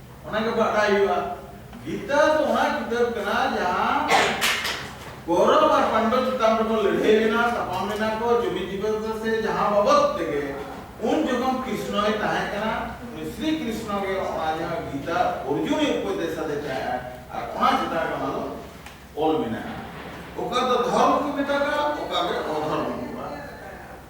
ᱚᱱᱟ ᱜᱮ ᱵᱟᱰᱟᱭ ᱦᱩᱭᱩᱜᱼᱟ ᱜᱤᱛᱟ ᱫᱚ ᱚᱱᱟ ᱠᱤᱛᱟᱹᱵ ᱠᱟᱱᱟ ᱡᱟᱦᱟᱸ ᱠᱚᱨᱚᱵ ᱟᱨ ᱯᱟᱱᱰᱚ ᱪᱮᱛᱟᱱ ᱨᱮᱠᱚ ᱞᱟᱹᱲᱦᱟᱹᱭ ᱞᱮᱱᱟ ᱛᱟᱯᱟᱢ ᱞᱮᱱᱟ ᱠᱚ ᱡᱩᱢᱤ ᱡᱤᱵᱚᱱ ᱥᱮ ᱡᱟᱦᱟᱸ ᱵᱟᱵᱚᱫ ᱛᱮᱜᱮ ᱩᱱ ᱡᱚᱠᱷᱚᱱ ᱠᱨᱤᱥᱱᱚᱭ ᱛᱟᱦᱮᱸ ᱠᱟᱱᱟ ᱩᱱᱤ ᱥᱨᱤ ᱠᱨᱤᱥᱱᱚ ᱜᱮ ᱚᱱᱟ ᱡᱟᱦᱟᱸ ᱜᱤᱛᱟ ᱚᱨᱡᱩᱱᱤ ᱩᱯᱚᱫᱮᱥ ᱟᱫᱮ ᱛᱟᱦᱮᱸ ᱟᱨ ᱚᱱᱟ ᱪᱮᱛᱟᱱ ᱨᱮ ᱚᱱᱟ ᱫᱚ ᱚᱞ ᱢᱮᱱᱟᱜᱼᱟ ᱚᱠᱟ ᱫᱚ ᱫᱷᱚᱨᱢ ᱠᱚ ᱢᱮᱛᱟᱜᱼᱟ ᱚᱠᱟ ᱜᱮ ᱚᱫᱷᱚᱨᱢ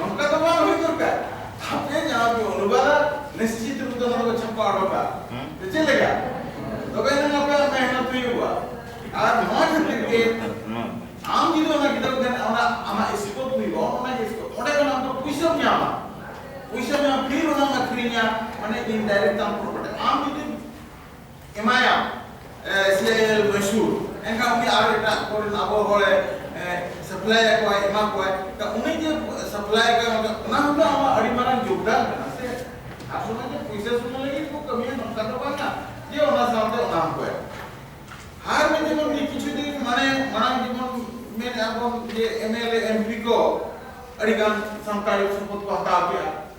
ᱱᱚᱝᱠᱟ ᱫᱚ ᱵᱟᱝ ᱦᱩᱭ ᱫᱚᱨᱠᱟᱨ ᱟᱯᱮ ᱡᱟᱦᱟᱸ ᱯᱮ ᱚᱱᱩᱵᱟᱫᱟ ᱱᱤᱥᱪᱤᱛ ᱨᱩᱯ ᱫᱚ ᱱᱚᱣᱟ ᱪᱷᱟᱯᱟ ᱚᱰᱚᱠᱟ ᱪᱮᱫ ᱞᱮᱠᱟ ᱛᱚᱵᱮ ᱱᱟᱝ ᱟᱯᱮᱭᱟᱜ ᱢᱮᱦᱱᱚᱛ ᱦᱩᱭᱩᱜᱼᱟ ᱟᱨ ᱱᱚᱣᱟ ᱠᱷᱟᱹᱛᱤᱨ ᱜᱮ ᱟᱢ ᱡᱩᱫᱤ ᱚᱱᱟ ᱜᱤᱫᱽᱨᱟᱹ ᱴᱷᱮᱱ ᱚᱱᱟ ᱟᱢᱟᱜ ᱥᱠᱳᱯ ᱦᱩᱭᱩᱜᱼᱟ ᱚᱱᱟ ᱜᱮ ᱥᱠᱳᱯ ᱚᱸᱰᱮ ᱠᱷᱚᱱ ᱟᱢ ᱫᱚ ᱯᱩᱭᱥᱟᱹᱢ ᱧᱟᱢᱟ ᱯᱩᱭᱥᱟᱹᱢ ᱧᱟᱢᱟ ᱯᱷᱤᱨ ᱚᱱᱟᱢ ᱟᱹᱠᱷᱨᱤᱧᱟ ᱢᱟᱱᱮ ᱤᱱᱰᱟᱭᱨᱮᱠᱴ ᱟᱢ ᱯᱨᱚᱯᱷᱤᱴ ᱟᱢ ᱡᱩᱫᱤ ᱮᱢᱟᱭᱟ ᱥᱮ ᱢᱟᱹᱭᱥᱩᱨ ᱮᱱᱠᱷᱟᱱ ᱩᱱᱤ ᱟᱨ ᱮᱴᱟᱜ ᱠᱚᱨᱮᱱ ᱟᱵᱚ ᱦᱚᱲᱮ ᱥᱟᱯᱞᱟᱭ ᱟᱠᱚᱣᱟ ᱮᱢᱟ ᱠᱚᱣᱟ ᱩᱱᱤ ᱡᱮ ᱥᱟᱯᱞᱟᱭ ᱟᱠᱚᱣᱟ ᱚᱱᱟ ᱦᱚᱸ ᱟᱢᱟᱜ ᱟᱹᱰᱤ ᱢᱟᱨᱟᱝ ᱡᱳᱜᱽᱫᱟᱱ ᱠᱟᱱᱟ ᱥᱮ ᱟᱨ ᱥᱚᱢᱚᱭ ᱡᱮ ᱯᱩᱭᱥᱟᱹ ᱥᱩᱢᱩᱝ ᱞᱟᱹᱜᱤᱫ ᱠᱚ ᱠᱟᱹᱢᱤᱭᱟ ᱱᱚᱝᱠᱟ ᱫᱚ ᱵᱟᱝᱟ ᱡᱮ ᱚᱱᱟ ᱥᱟᱶᱛᱮ ᱚᱱᱟ ᱦᱚᱸᱠᱚ ᱮᱢᱟ ᱟᱨ ᱢᱤᱫ ᱡᱮᱢᱚᱱ ᱢᱤᱫ ᱠᱤᱪᱷᱩ ᱫᱤᱱ ᱢᱟᱱᱮ ᱢᱟᱲᱟᱝ ᱡᱮᱢᱚᱱ ᱢᱮᱱ ᱟᱵᱚᱱ ᱡᱮ ᱮᱢᱮᱞᱮ ᱮᱢᱯᱤ ᱠᱚ ᱟᱹᱰᱤ ᱜᱟᱱ ᱥᱟᱱᱛᱟᱲᱤ ᱥᱚᱯᱚᱫ ᱠᱚ ᱦᱟᱛᱟᱣ ᱠᱮᱜᱼᱟ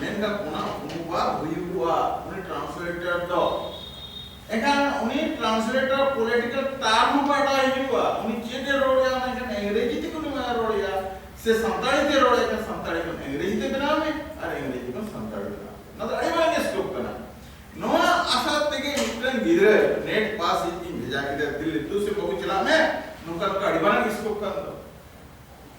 ᱢᱮᱱᱫᱟ ᱚᱱᱟ ᱚᱱᱩᱵᱟᱫ ᱦᱩᱭᱩᱜᱼᱟ ᱩᱱᱤ ᱴᱨᱟᱱᱥᱞᱮᱴᱚᱨ ᱫᱚ ᱮᱱᱠᱷᱟᱱ ᱩᱱᱤ ᱴᱨᱟᱱᱥᱞᱮᱴᱚᱨ ᱯᱚᱞᱤᱴᱤᱠᱟᱞ ᱴᱟᱨᱢ ᱵᱟᱰᱟᱭ ᱦᱩᱭᱩᱜᱼᱟ ᱩᱱᱤ ᱪᱮᱫ ᱮ ᱨᱚᱲᱮᱫᱟ ᱢᱮᱱᱠᱷᱟᱱ ᱤᱝᱨᱮᱡᱤ ᱛᱮ ᱩᱱᱤ ᱢᱟ ᱨᱚᱲᱮᱫᱟ ᱥᱮ ᱥᱟᱱᱛᱟᱲᱤ ᱛᱮ ᱨᱚᱲᱮᱫᱟ ᱮᱱᱠᱷᱟᱱ ᱥᱟᱱᱛᱟᱲᱤ ᱠᱷᱚᱱ ᱤᱝᱨᱮᱡᱤ ᱛᱮ ᱵᱮᱱᱟᱣ ᱢᱮ ᱟᱨ ᱤᱝᱨᱮᱡᱤ ᱠᱷᱚᱱ ᱥᱟᱱᱛᱟᱲᱤ ᱵᱮᱱᱟᱣ ᱚᱱᱟ ᱫᱚ ᱟᱹᱰᱤ ᱢᱟᱨᱟᱝ ᱥᱠᱳᱯ ᱠᱟᱱᱟ ᱱᱚᱣᱟ ᱟᱥᱟ ᱛᱮᱜᱮ ᱢᱤᱫᱴᱟᱝ ᱜᱤᱫᱽᱨᱟᱹ ᱱᱮᱴ ᱯᱟᱥ ᱤᱧ ᱵᱷᱮᱡᱟ ᱠᱮᱫᱟ ᱫᱤᱞᱞᱤ ᱛᱩ ᱥᱮ ᱵᱟᱹᱵᱩ ᱪᱟᱞᱟᱜ ᱢᱮ ᱱᱚᱝᱠᱟ ᱱᱚᱝᱠᱟ ᱟᱹᱰᱤ ᱢᱟᱨᱟᱝ ᱥᱠᱳᱯ ᱠᱟᱱ ᱫᱚ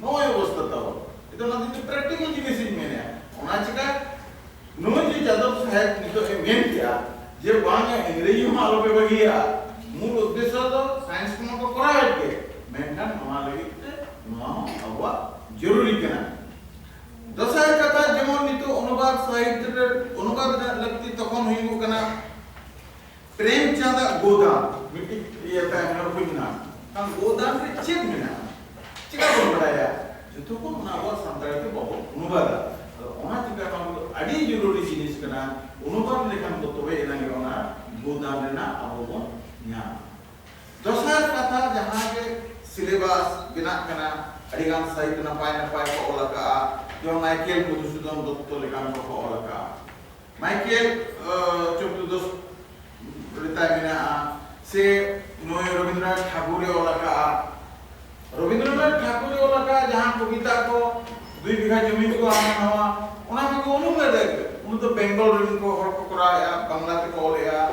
ᱱᱚᱜᱼᱚᱭ ᱚᱵᱚᱥᱛᱟ ᱛᱟᱵᱚᱱ ᱱᱤᱛᱚᱜ ᱚᱱᱟ ᱫᱤᱱ ᱯᱨᱮᱠᱴᱤᱠᱟᱞ ᱡᱤᱱᱤᱥ ᱤᱧ ᱢᱮᱱᱮᱜᱼᱟ ᱚᱱᱟ ᱪᱤᱠᱟ ᱱᱩᱭ ᱡᱮ ᱡᱟᱫᱚᱵ ᱥᱟᱦᱮᱵ ᱱᱤᱛᱚᱜ ᱮ ᱢᱮᱱ ᱠᱮᱜᱼᱟ ᱡᱮ ᱵᱟᱝ ᱤᱝᱨᱮᱡᱤ ᱦᱚᱸ ᱟᱞᱚ ᱯᱮ ᱵᱟᱹᱜᱤᱭᱟ ᱢᱩᱞ ᱩᱫᱽᱫᱮᱥᱥᱚ ᱫᱚ ᱥᱟᱭᱮᱱᱥ ᱠᱚᱢᱟ ᱠᱚ ᱠᱚᱨᱟᱣᱮᱫ ᱜᱮ ᱢᱮᱱᱠᱷᱟᱱ ᱱᱚᱣᱟ ᱞᱟᱹᱜᱤᱫ ᱛᱮ ᱱᱚᱣᱟ ᱦᱚᱸ ᱟᱵᱚᱣᱟᱜ ᱡᱚᱨᱩᱨᱤ ᱠᱟᱱᱟ ᱫᱚᱥᱟᱨ ᱠᱟᱛᱷᱟ ᱡᱮᱢᱚᱱ ᱱᱤᱛᱚᱜ ᱚᱱᱩᱵᱟᱫ ᱥᱟᱦᱤᱛᱭᱚ ᱨᱮ ᱚᱱᱩᱵᱟᱫ ᱨᱮᱱᱟᱜ ᱞᱟᱹᱠᱛᱤ ᱛᱚᱠᱷᱚᱱ ᱦᱩᱭᱩᱜ ᱠᱟᱱᱟ ᱯᱨᱮᱢᱪᱟᱸᱫᱽ ᱟᱜ ᱜᱳᱫᱟᱱ ᱢᱤᱫᱴᱤᱡ ᱤᱭᱟᱹ ᱛᱟᱭᱚᱢ ᱨᱮ ᱵᱳᱭ ᱢᱮᱱᱟᱜᱼᱟ᱾ ᱠᱷᱟᱱ ᱜᱳᱫᱟᱱ ᱨᱮ ᱪᱮᱫ ᱢᱮᱱᱟᱜᱼᱟ? ᱪᱮᱠᱟ ᱵᱚᱱ ᱵᱟᱰᱟᱭᱟ? ᱡᱚᱛᱚ ᱠᱷᱚᱱ ᱚᱱᱟ ᱟᱵᱚᱣᱟᱜ ᱥᱟᱱᱛᱟᱲᱤ ᱛᱮ ᱵᱟᱵᱚ ᱚᱱᱩᱵᱟᱫᱟ᱾ ᱟᱫᱚ ᱚᱱᱟ ᱪᱤᱠᱟ ᱱᱚᱣᱟ ᱫᱚ ᱟᱹᱰᱤ ᱡᱚᱨᱩᱨᱤ ᱡᱤᱱᱤᱥ ᱠᱟᱱᱟ᱾ ᱚᱱᱩᱵᱟᱫ ᱞᱮᱠᱷᱟᱱ ᱵᱚ ᱛᱚᱵᱮ ᱮᱱᱟᱝ ᱜᱮ ᱚᱱᱟ ᱜᱳᱫᱟᱱ ᱨᱮᱱᱟᱜ ᱟᱵᱚ ᱵᱚᱱ ᱧᱟᱢᱟ᱾ ᱫᱚᱥᱟᱨ ᱠᱟᱛᱷᱟ ᱡᱟᱦᱟᱸ ᱜᱮ ᱥᱤᱞᱮᱵᱟᱥ ᱵᱮᱱᱟᱜ ᱠᱟᱱᱟ ᱟᱹᱰᱤ ᱜᱟᱱ ᱥᱟᱦᱤᱛ ᱱᱟᱯᱟᱭ ᱱᱟᱯᱟᱭ ᱠᱚ ᱚᱞ ᱟᱠᱟᱜᱼᱟ᱾ ᱡᱮᱢᱚᱱ ᱢᱟᱭᱠᱮᱞ ᱢᱚᱫᱷᱩᱥᱩᱫᱚᱱ ᱫᱚᱛᱛᱚ ᱞᱮᱠᱟᱱ ᱠᱚ ᱠᱚ ᱚᱞ ᱟᱠᱟᱜᱼᱟ᱾ ᱢᱟᱭᱠᱮᱞ ᱪᱚᱠᱨᱚ ᱫᱚ ᱨᱮᱛᱟᱭ ᱢᱮᱱᱟᱜᱼᱟ ᱥᱮ ᱱᱩᱭ ᱨᱚᱵᱤᱱᱫᱨᱚᱱᱟᱛᱷ ᱴᱷᱟᱠᱩᱨ ᱮ ᱚᱞ ᱟᱠᱟᱫᱼᱟ ᱨᱚᱵᱤᱱᱫᱨᱚᱱᱟᱛᱷ ᱴᱷᱟᱠᱩᱨ ᱮ ᱚᱞ ᱟᱠᱟᱫ ᱡᱟᱦᱟᱸ ᱠᱚᱵᱤᱛᱟ ᱠᱚ ᱫᱩᱭ ᱵᱤᱜᱷᱟ ᱡᱚᱢᱤ ᱠᱚ ᱦᱟᱱᱟ ᱱᱟᱣᱟ ᱚᱱᱟ ᱠᱚᱫᱚ ᱩᱱᱩᱢ ᱞᱮᱫᱟᱭ ᱩᱱᱤ ᱫᱚ ᱵᱮᱝᱜᱚᱞ ᱨᱮᱱ ᱠᱚ ᱦᱚᱲ ᱠᱚ ᱠᱚᱨᱟᱣᱮᱫᱼᱟ ᱵᱟᱝᱞᱟ ᱛᱮᱠᱚ ᱚᱞᱮᱫᱼᱟ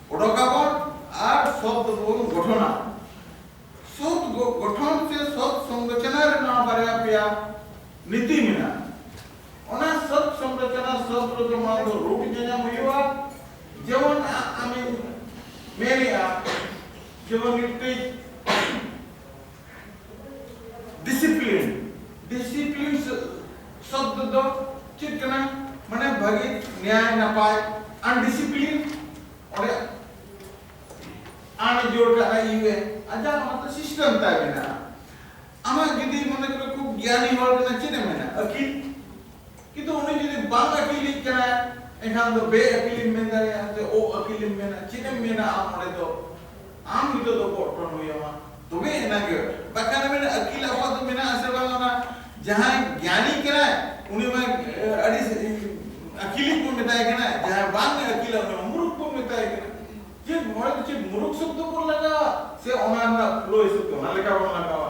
ᱚᱰᱚᱠᱟᱵᱚᱱ ᱟᱨ ᱥᱚᱛ ᱵᱚᱱ ᱜᱚᱴᱷᱚᱱᱟ᱾ ᱥᱚᱛ ᱜᱚᱴᱷᱚᱱ ᱥᱮ ᱥᱚᱛ ᱥᱚᱝᱨᱚᱪᱚᱱᱟ ᱨᱮ ᱱᱚᱣᱟ ᱵᱟᱨᱭᱟ ᱯᱮᱭᱟ ᱱᱤᱛᱤ ᱢᱮᱱᱟᱜᱼᱟ᱾ ᱚᱱᱟ ᱥᱚᱛ ᱥᱚᱝᱨᱚᱪᱚᱱᱟ ᱥᱚᱛ ᱨᱮᱫᱚ ᱢᱟᱲᱟᱝ ᱫᱚ ᱨᱩᱴ ᱧᱟᱧᱟᱢ ᱦᱩᱭᱩᱜᱼᱟ᱾ ᱡᱮᱢᱚᱱ ᱟᱢᱤᱧ ᱢᱮᱱᱮᱜᱼᱟ ᱡᱮᱢᱚᱱ ᱢᱤᱫᱴᱤᱡ ᱰᱤᱥᱤᱯᱞᱤᱱ ᱰᱤᱥᱤᱯᱞᱤᱱ ᱥᱚᱵᱫ ᱫᱚ ᱪᱮᱫ ᱠᱟᱱᱟ ᱢᱟᱱᱮ ᱵᱷᱟᱹᱜᱤ ᱱᱮᱭᱟᱭ ᱱᱟᱯᱟᱭ ᱟᱱᱰᱤᱥᱤᱯᱞᱤᱱ ᱚᱸᱰᱮ ᱟᱱ ᱡᱳᱲ ᱠᱟᱜᱼᱟ ᱤᱭᱩ ᱮ ᱟᱡᱟᱜ ᱚᱱᱟᱛᱮ ᱥᱤᱥᱴᱮᱢ ᱛᱟᱭ ᱢᱮᱱᱟᱜᱼᱟ ᱟᱢᱟᱜ ᱡᱩᱫᱤ ᱢᱚᱱᱮ ᱠᱚᱨᱮ ᱠᱷᱩᱵ ᱜᱮᱭᱟᱱᱤ ᱦᱚᱲ ᱠᱟᱱᱟ ᱪᱮᱫ ᱮ ᱢᱮᱱᱟ ᱟᱹᱠᱤᱞ ᱠᱤᱱᱛᱩ ᱩᱱᱤ ᱡᱩᱫᱤ ᱵᱟᱝ ᱟᱹᱠᱤᱞᱤᱡ ᱠᱟᱱᱟᱭ ᱮᱱᱠᱷᱟᱱ ᱫᱚ ᱵᱮ ᱟᱹᱠᱤᱞᱮᱢ ᱢᱮᱱ ᱫᱟᱲᱮᱭᱟᱜᱼᱟ ᱥᱮ ᱚ ᱟᱹᱠᱤᱞᱮᱢ ᱢᱮᱱᱟ ᱪᱮᱫ ᱮᱢ ᱢᱮᱱᱟ ᱟᱢ ᱚᱸᱰᱮ ᱫᱚ ᱟᱢ ᱱᱤᱛᱚᱜ ᱫᱚ ᱜᱚᱜ ᱴᱚᱱ ᱦᱩᱭ ᱟᱢᱟ ᱛᱚᱵᱮ ᱮᱱᱟᱝ ᱜᱮ ᱵᱟᱠᱷᱟᱱ ᱮᱢ ᱢᱮᱱᱟ ᱟᱹᱠᱤᱞ ᱟᱵᱚᱣᱟᱜ ᱫᱚ ᱢᱮᱱᱟᱜ ᱟᱥᱮ ᱵᱟᱝ ᱚᱱᱟ ᱡᱟᱦᱟᱸᱭ ᱜᱮᱭᱟᱱᱤ ᱠᱟᱱᱟᱭ ᱩᱱᱤ ᱢᱟ ᱟᱹᱰᱤ ᱟᱹᱠᱤᱞᱤᱡ ᱵᱚᱱ ᱢᱮᱛᱟᱭ ᱠᱟᱱᱟ ᱡᱟᱦᱟᱸᱭ ᱵᱟᱝ ᱮ ᱟᱹᱠᱤᱞᱟ ᱩᱱᱤ ᱢᱟ ᱢᱩᱨᱩᱠᱷ ᱵᱚᱱ ᱢᱮᱛᱟᱭ ᱠᱟᱱᱟ ᱪᱮᱫ ᱱᱚᱣᱟ ᱫᱚ ᱪᱮᱫ ᱢᱩᱨᱩᱠᱷ ᱥᱚᱵᱫᱚ ᱵᱚᱱ ᱞᱟᱜᱟᱣᱟ ᱥᱮ ᱚᱱᱟ ᱨᱮᱱᱟᱜ ᱯᱷᱞᱳ ᱦᱤᱥᱟᱹᱵ ᱛᱮ ᱚᱱᱟ ᱞᱮᱠᱟ ᱵᱚᱱ ᱞᱟᱜᱟᱣᱟ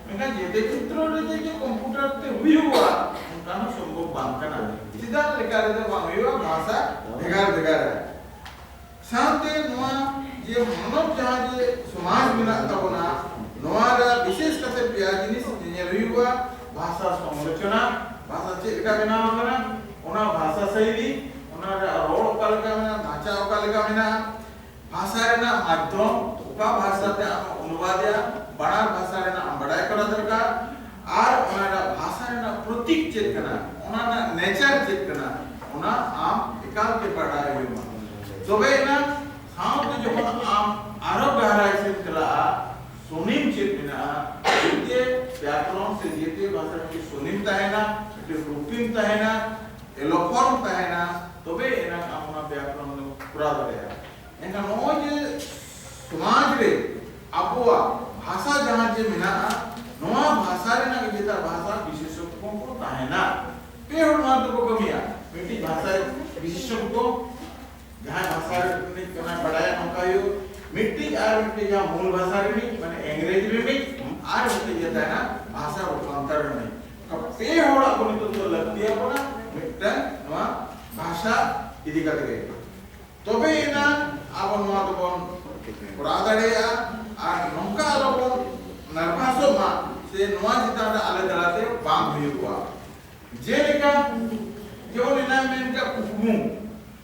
ᱢᱮᱱᱠᱷᱟᱱ ᱡᱮᱛᱮ ᱪᱤᱛᱨᱚ ᱨᱮ ᱡᱮ ᱡᱮ ᱠᱚᱢᱯᱩᱴᱟᱨ ᱛᱮ ᱦᱩᱭᱩᱜᱼᱟ ᱚᱱᱠᱟ ᱦᱚᱸ ᱥᱚᱢᱵᱷᱚᱵ ᱵᱟᱝ ᱠᱟᱱᱟ ᱪᱮᱫᱟᱜ ᱞᱮᱠᱟ ᱨᱮᱫᱚ ᱵᱟᱝ ᱦᱩᱭᱩᱜᱼᱟ ᱵᱷᱟᱥᱟ ᱵᱷᱮᱜᱟᱨ ᱵᱷᱮᱜᱟᱨ ᱥᱟᱶᱛᱮ ᱱᱚᱣᱟ ᱡᱮ ᱢᱟᱱᱚᱵ ᱡᱟᱦᱟᱸ ᱡᱮ ᱥᱚᱢᱟᱡᱽ ᱢᱮᱱᱟᱜ ᱛᱟᱵᱚᱱᱟ ᱱᱚᱣᱟ ᱨᱮ ᱵᱤᱥᱮᱥ ᱠᱟᱛᱮ ᱯᱮᱭᱟ ᱡᱤᱱᱤᱥ ᱧᱮᱧᱮᱞ ᱦᱩᱭᱩᱜᱼᱟ ᱵᱷᱟᱥᱟ ᱥᱚᱢᱨᱚᱪᱚᱱᱟ ᱵᱷᱟᱥᱟ ᱪᱮᱫ ᱞᱮᱠᱟ ᱵᱮᱱᱟᱣ ᱟᱠᱟᱱᱟ ᱚᱱᱟ ᱵᱷᱟᱥᱟ ᱥᱟᱭᱞᱤ ᱚᱱᱟ ᱨᱮᱭᱟᱜ ᱨᱚᱲ ᱚᱠᱟ ᱞᱮᱠᱟ ᱢᱮᱱᱟᱜᱼᱟ ᱢᱟᱪᱟ ᱚᱠᱟ ᱞᱮᱠᱟ ᱢᱮᱱᱟᱜᱼᱟ ᱵᱷᱟᱥᱟ ᱨᱮᱱᱟᱜ ᱢᱟᱫᱷᱭᱚᱢ ᱚᱠᱟ ᱵᱷᱟᱥᱟ ᱛᱮ ᱟᱢᱮ ᱚᱱᱩᱵᱟᱫᱮᱜᱼᱟ, ᱵᱟᱱᱟᱨ ᱵᱷᱟᱥᱟ ᱨᱮᱱᱟᱜ ᱟᱢ ᱵᱟᱰᱟᱭ ᱠᱚᱨᱟᱣ ᱫᱚᱨᱠᱟᱨ ᱟᱨ ᱚᱱᱟ ᱨᱮᱱᱟᱜ ᱵᱷᱟᱥᱟ ᱨᱮᱱᱟᱜ ᱯᱨᱚᱛᱤᱠ ᱪᱮᱫ ᱠᱟᱱᱟ, ᱚᱱᱟ ᱨᱮᱱᱟᱜ ᱱᱮᱪᱟᱨ ᱪᱮᱫ ᱠᱟᱱᱟ ᱚᱱᱟ ᱟᱢ ᱮᱠᱟᱞ ᱜᱮ ᱵᱟᱰᱟᱭ ᱦᱩᱭ ᱟᱢᱟ᱾ ᱛᱚᱵᱮ ᱮᱱᱟᱝ ᱥᱟᱶᱛᱮ ᱡᱚᱠᱷᱚᱱ ᱟᱢ ᱟᱨᱦᱚᱸ ᱜᱟᱦᱨᱟᱭ ᱥᱮᱫ ᱮᱢ ᱪᱟᱞᱟᱜᱼᱟ, ᱥᱚᱱᱤᱢ ᱪᱮᱫ ᱢᱮᱱᱟᱜᱼᱟ, ᱡᱮᱛᱮ ᱵᱮᱭᱟᱠᱚᱨᱚᱱ ᱥᱮ ᱡᱮᱛᱮ ᱵᱷᱟᱥᱟ ᱨᱮ ᱢᱤᱫᱴᱮᱱ ᱥᱚᱱᱤᱢ ᱛᱟᱦᱮᱸᱱᱟ, ᱢᱤᱫᱴᱮᱱ ᱨᱩᱯᱤᱢ ᱛᱟᱦᱮᱸᱱᱟ, ᱮᱞᱳᱯᱷᱚᱨᱢ ᱛᱟᱦᱮᱱᱟ ᱛᱚᱵᱮ ᱮᱱᱟᱝ ᱟᱢ ᱚᱱᱟ ᱵᱮᱭᱟᱠᱨᱚᱱ ᱫᱚᱢ ᱠᱚᱨᱟᱣ ᱫᱟᱲᱮᱭᱟᱜᱼᱟ ᱮᱱᱠᱷᱟᱱ ᱱᱚᱜᱼᱚᱭ ᱡᱮ ᱥᱚᱢᱟᱡᱽ ᱨᱮ ᱟᱵᱚᱣᱟᱜ ᱵᱷᱟᱥᱟ ᱡᱟᱦᱟᱸ ᱡᱮ ᱢᱮᱱᱟᱜᱼᱟ ᱱᱚᱣᱟ ᱵᱷᱟᱥᱟ ᱨᱮᱱᱟᱜ ᱡᱮᱴᱟ ᱵᱷᱟᱥᱟ ᱵᱤᱥᱮᱥᱚᱠ ᱠᱚ ᱠᱚ ᱛᱟᱦᱮᱱᱟ ᱯᱮ ᱦᱚᱲ ᱱᱚᱣᱟ ᱫᱚᱠᱚ ᱠᱟᱹᱢᱤᱭᱟ ᱢᱤᱫᱴᱤᱡ ᱵᱷᱟᱥᱟ ᱵᱤᱥᱮᱥᱚᱠ ᱠᱚ ᱡᱟᱦᱟᱸ ᱵᱷᱟᱥᱟ ᱨᱤᱱᱤᱡ ᱠᱟᱱᱟ ᱵᱟᱰᱟᱭᱟ ᱱᱚᱝᱠᱟ ᱦᱩᱭᱩᱜ ᱢᱤᱫᱴᱤᱡ ᱟᱨ ᱢᱤᱫᱴᱤᱡ ᱡᱟᱦᱟᱸ ᱢᱩᱞ ᱵᱷᱟᱥᱟ ᱨᱤᱱᱤᱡ ᱢᱟᱱᱮ ᱤᱝᱨᱮᱡᱤ ᱨᱤᱱᱤᱡ ᱟᱨ ᱢᱤᱫᱴᱤᱡ ᱡᱮ ᱛᱟᱦᱮᱱᱟ ᱵᱷᱟᱥᱟ ᱨᱩᱯᱟᱱᱛᱚᱨ ᱨᱤᱱᱤᱡ ᱟᱯᱮ ᱦᱚᱲᱟᱜ ᱠᱚ ᱱᱤᱛᱚᱜ ᱫᱚ ᱞᱟᱹᱠᱛᱤ ᱟᱵᱚᱱᱟ ᱢᱤᱫᱴᱟᱝ ᱱᱚᱣᱟ ᱵᱷᱟᱥᱟ ᱤᱫᱤ ᱠᱟᱛᱮ ᱜᱮ ᱛᱚᱵᱮ ᱮᱱᱟ ᱟᱵᱚ ᱱᱚᱣᱟ ᱫᱚᱵᱚᱱ ᱠᱚᱨᱟᱣ ᱫᱟᱲᱮᱭᱟᱜᱼᱟ ᱟᱨ ᱱᱚᱝᱠᱟ ᱟᱞᱚ ᱵᱚᱱ ᱱᱟᱨᱵᱷᱟᱥᱚᱜ ᱢᱟ ᱥᱮ ᱱᱚᱣᱟ ᱪᱮᱛᱟᱱ ᱨᱮ ᱟᱞᱮ ᱫᱟᱨᱟᱭᱛᱮ ᱵᱟᱝ ᱦᱩᱭᱩᱜᱼᱟ ᱡᱮᱞᱮᱠᱟ ᱡᱮᱢᱚᱱ ᱮᱱᱟᱝ ᱢᱮᱱ ᱠᱮᱫ ᱠᱩᱠᱢᱩ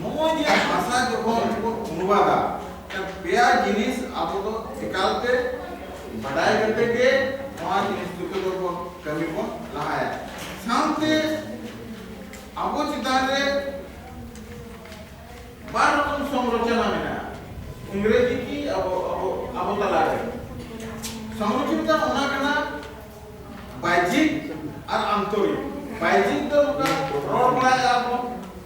ᱱᱚᱜᱼᱚᱭ ᱡᱮ ᱵᱷᱟᱥᱟ ᱡᱚᱠᱷᱚᱱ ᱵᱚᱱ ᱚᱱᱩᱵᱟᱫᱟ ᱯᱮᱭᱟ ᱡᱤᱱᱤᱥ ᱟᱵᱚ ᱫᱚ ᱮᱠᱟᱞᱛᱮ ᱵᱟᱰᱟᱭ ᱠᱟᱛᱮ ᱜᱮ ᱱᱚᱣᱟ ᱡᱤᱱᱤᱥ ᱫᱚ ᱵᱚᱱ ᱠᱟᱹᱢᱤ ᱵᱚᱱ ᱞᱟᱦᱟᱭᱟ ᱥᱟᱶᱛᱮ ᱟᱵᱚ ᱪᱮᱛᱟᱱ ᱨᱮ ᱵᱟᱨ ᱨᱚᱠᱚᱢ ᱥᱚᱢᱨᱚᱪᱚᱱᱟ ᱢᱮᱱᱟᱜᱼᱟ ᱤᱝᱨᱮᱡᱤ ᱠᱤ ᱟᱵᱚ ᱟᱵᱚ ᱟᱵᱚ ᱛᱟᱞᱟᱨᱮ ᱥᱚᱢᱨᱚᱪᱚᱱᱟ ᱚᱱᱟ ᱠᱟᱱᱟ ᱵᱟᱭᱡᱤᱠ ᱟᱨ ᱟᱱᱛᱚᱨᱤᱠ ᱵᱟᱭᱡᱤᱠ ᱫᱚ ᱱᱚᱝᱠᱟ ᱨᱚᱲ ᱵᱟᱲᱟᱭᱟ ᱵᱚᱱ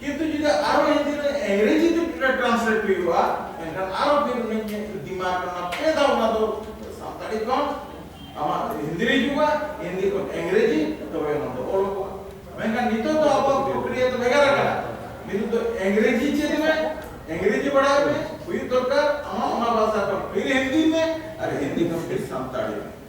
ᱠᱤᱱᱛᱩ ᱡᱩᱫᱤ ᱟᱨᱚ ᱦᱤᱱᱫᱤ ᱨᱮ ᱤᱝᱨᱮᱡᱤ ᱛᱮ ᱴᱨᱟᱱᱥᱞᱮᱴ ᱦᱩᱭᱩᱜᱼᱟ ᱮᱱᱠᱷᱟᱱ ᱟᱨᱚ ᱯᱷᱤᱨ ᱩᱱᱤ ᱫᱤᱢᱟᱜᱽ ᱨᱮ ᱚᱱᱟ ᱯᱮ ᱫᱷᱟᱣ ᱚᱱᱟ ᱫᱚ ᱥᱟᱱᱛᱟᱲᱤ ᱠᱷᱚᱱ ᱟᱢᱟᱜ ᱦᱤᱱᱫᱤ ᱨᱮ ᱦᱤᱡᱩᱜᱼᱟ ᱦᱤᱱᱫᱤ ᱠᱷᱚᱱ ᱤᱝᱨᱮᱡᱤ ᱛᱚᱵᱮ ᱚᱱᱟ ᱫᱚ ᱚᱞᱚᱜᱚᱜᱼᱟ ᱢᱮᱱᱠᱷᱟᱱ ᱱᱤᱛᱚᱜ ᱫᱚ ᱟᱵᱚᱣᱟᱜ ᱯᱨᱚᱠᱨᱤᱭᱟ ᱫᱚ ᱵᱷᱮᱜᱟᱨ ᱟᱠᱟᱱᱟ ᱱᱤᱛᱚᱜ ᱫᱚ ᱤᱝᱨᱮᱡᱤ ᱪᱮᱫ ᱢᱮ ᱤᱝᱨᱮᱡᱤ ᱵᱟᱲᱟᱭ ᱢᱮ ᱦᱩᱭᱩᱜ ᱫᱚᱨᱠᱟᱨ ᱟᱢᱟᱜ ᱚᱱᱟ ᱵᱷᱟᱥᱟ ᱠᱷᱚᱱ ᱯᱷᱤᱨ ᱦᱤᱱᱫᱤ ᱢᱮ ᱟᱨ ᱦᱤᱱᱫᱤ ᱠᱷᱚᱱ ᱯᱷᱤᱨ ᱥᱟᱱᱛᱟᱲᱤ ᱢᱮ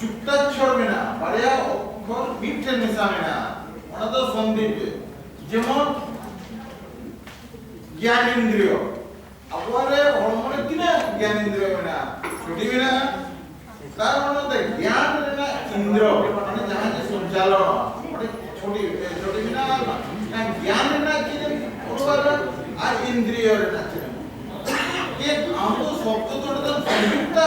ᱡᱩᱠᱛᱟᱠᱪᱷᱚᱨ ᱢᱮᱱᱟᱜᱼᱟ ᱵᱟᱨᱭᱟ ᱚᱠᱠᱷᱚᱨ ᱢᱤᱫ ᱴᱷᱮᱱ ᱢᱮᱥᱟ ᱢᱮᱱᱟᱜᱼᱟ ᱚᱱᱟ ᱫᱚ ᱥᱚᱱᱫᱷᱤ ᱛᱮ ᱡᱮᱢᱚᱱ ᱜᱮᱭᱟᱱ ᱤᱱᱫᱨᱤᱭᱚ ᱟᱵᱚᱣᱟᱜ ᱨᱮ ᱦᱚᱲᱢᱚ ᱨᱮ ᱛᱤᱱᱟᱹᱜ ᱜᱮᱭᱟᱱ ᱤᱱᱫᱨᱤᱭᱚ ᱢᱮᱱᱟᱜᱼᱟ ᱪᱷᱚᱴᱤ ᱢᱮᱱᱟᱜᱼᱟ ᱛᱟᱨ ᱢᱟᱱᱮ ᱫᱚ ᱜᱮᱭᱟᱱ ᱨᱮᱱᱟᱜ ᱤᱱᱫᱨᱤᱭᱚ ᱢᱟᱱᱮ ᱡᱟᱦᱟᱸ ᱡᱮ ᱥᱚᱧᱪᱟᱞᱚᱱᱚᱜᱼᱟ ᱚᱸᱰᱮ ᱪᱷᱚᱴᱤ ᱪᱷᱚᱴᱤ ᱢᱮᱱᱟᱜᱼᱟ ᱚᱱᱟ ᱜᱮᱭᱟᱱ ᱨᱮᱱᱟᱜ ᱪᱮᱫ ᱮᱢ ᱚᱰᱚᱠᱟ ᱟᱨ ᱤᱱᱫᱨᱤᱭᱚ ᱨᱮᱱᱟᱜ ᱪᱮᱫ ᱮᱢ ᱪᱮᱫ ᱟᱢ ᱫᱚ ᱥᱚᱵᱫᱚ ᱫᱚ ᱚᱸᱰᱮ ᱫᱚ ᱥᱚᱝᱡᱩᱠᱛᱟ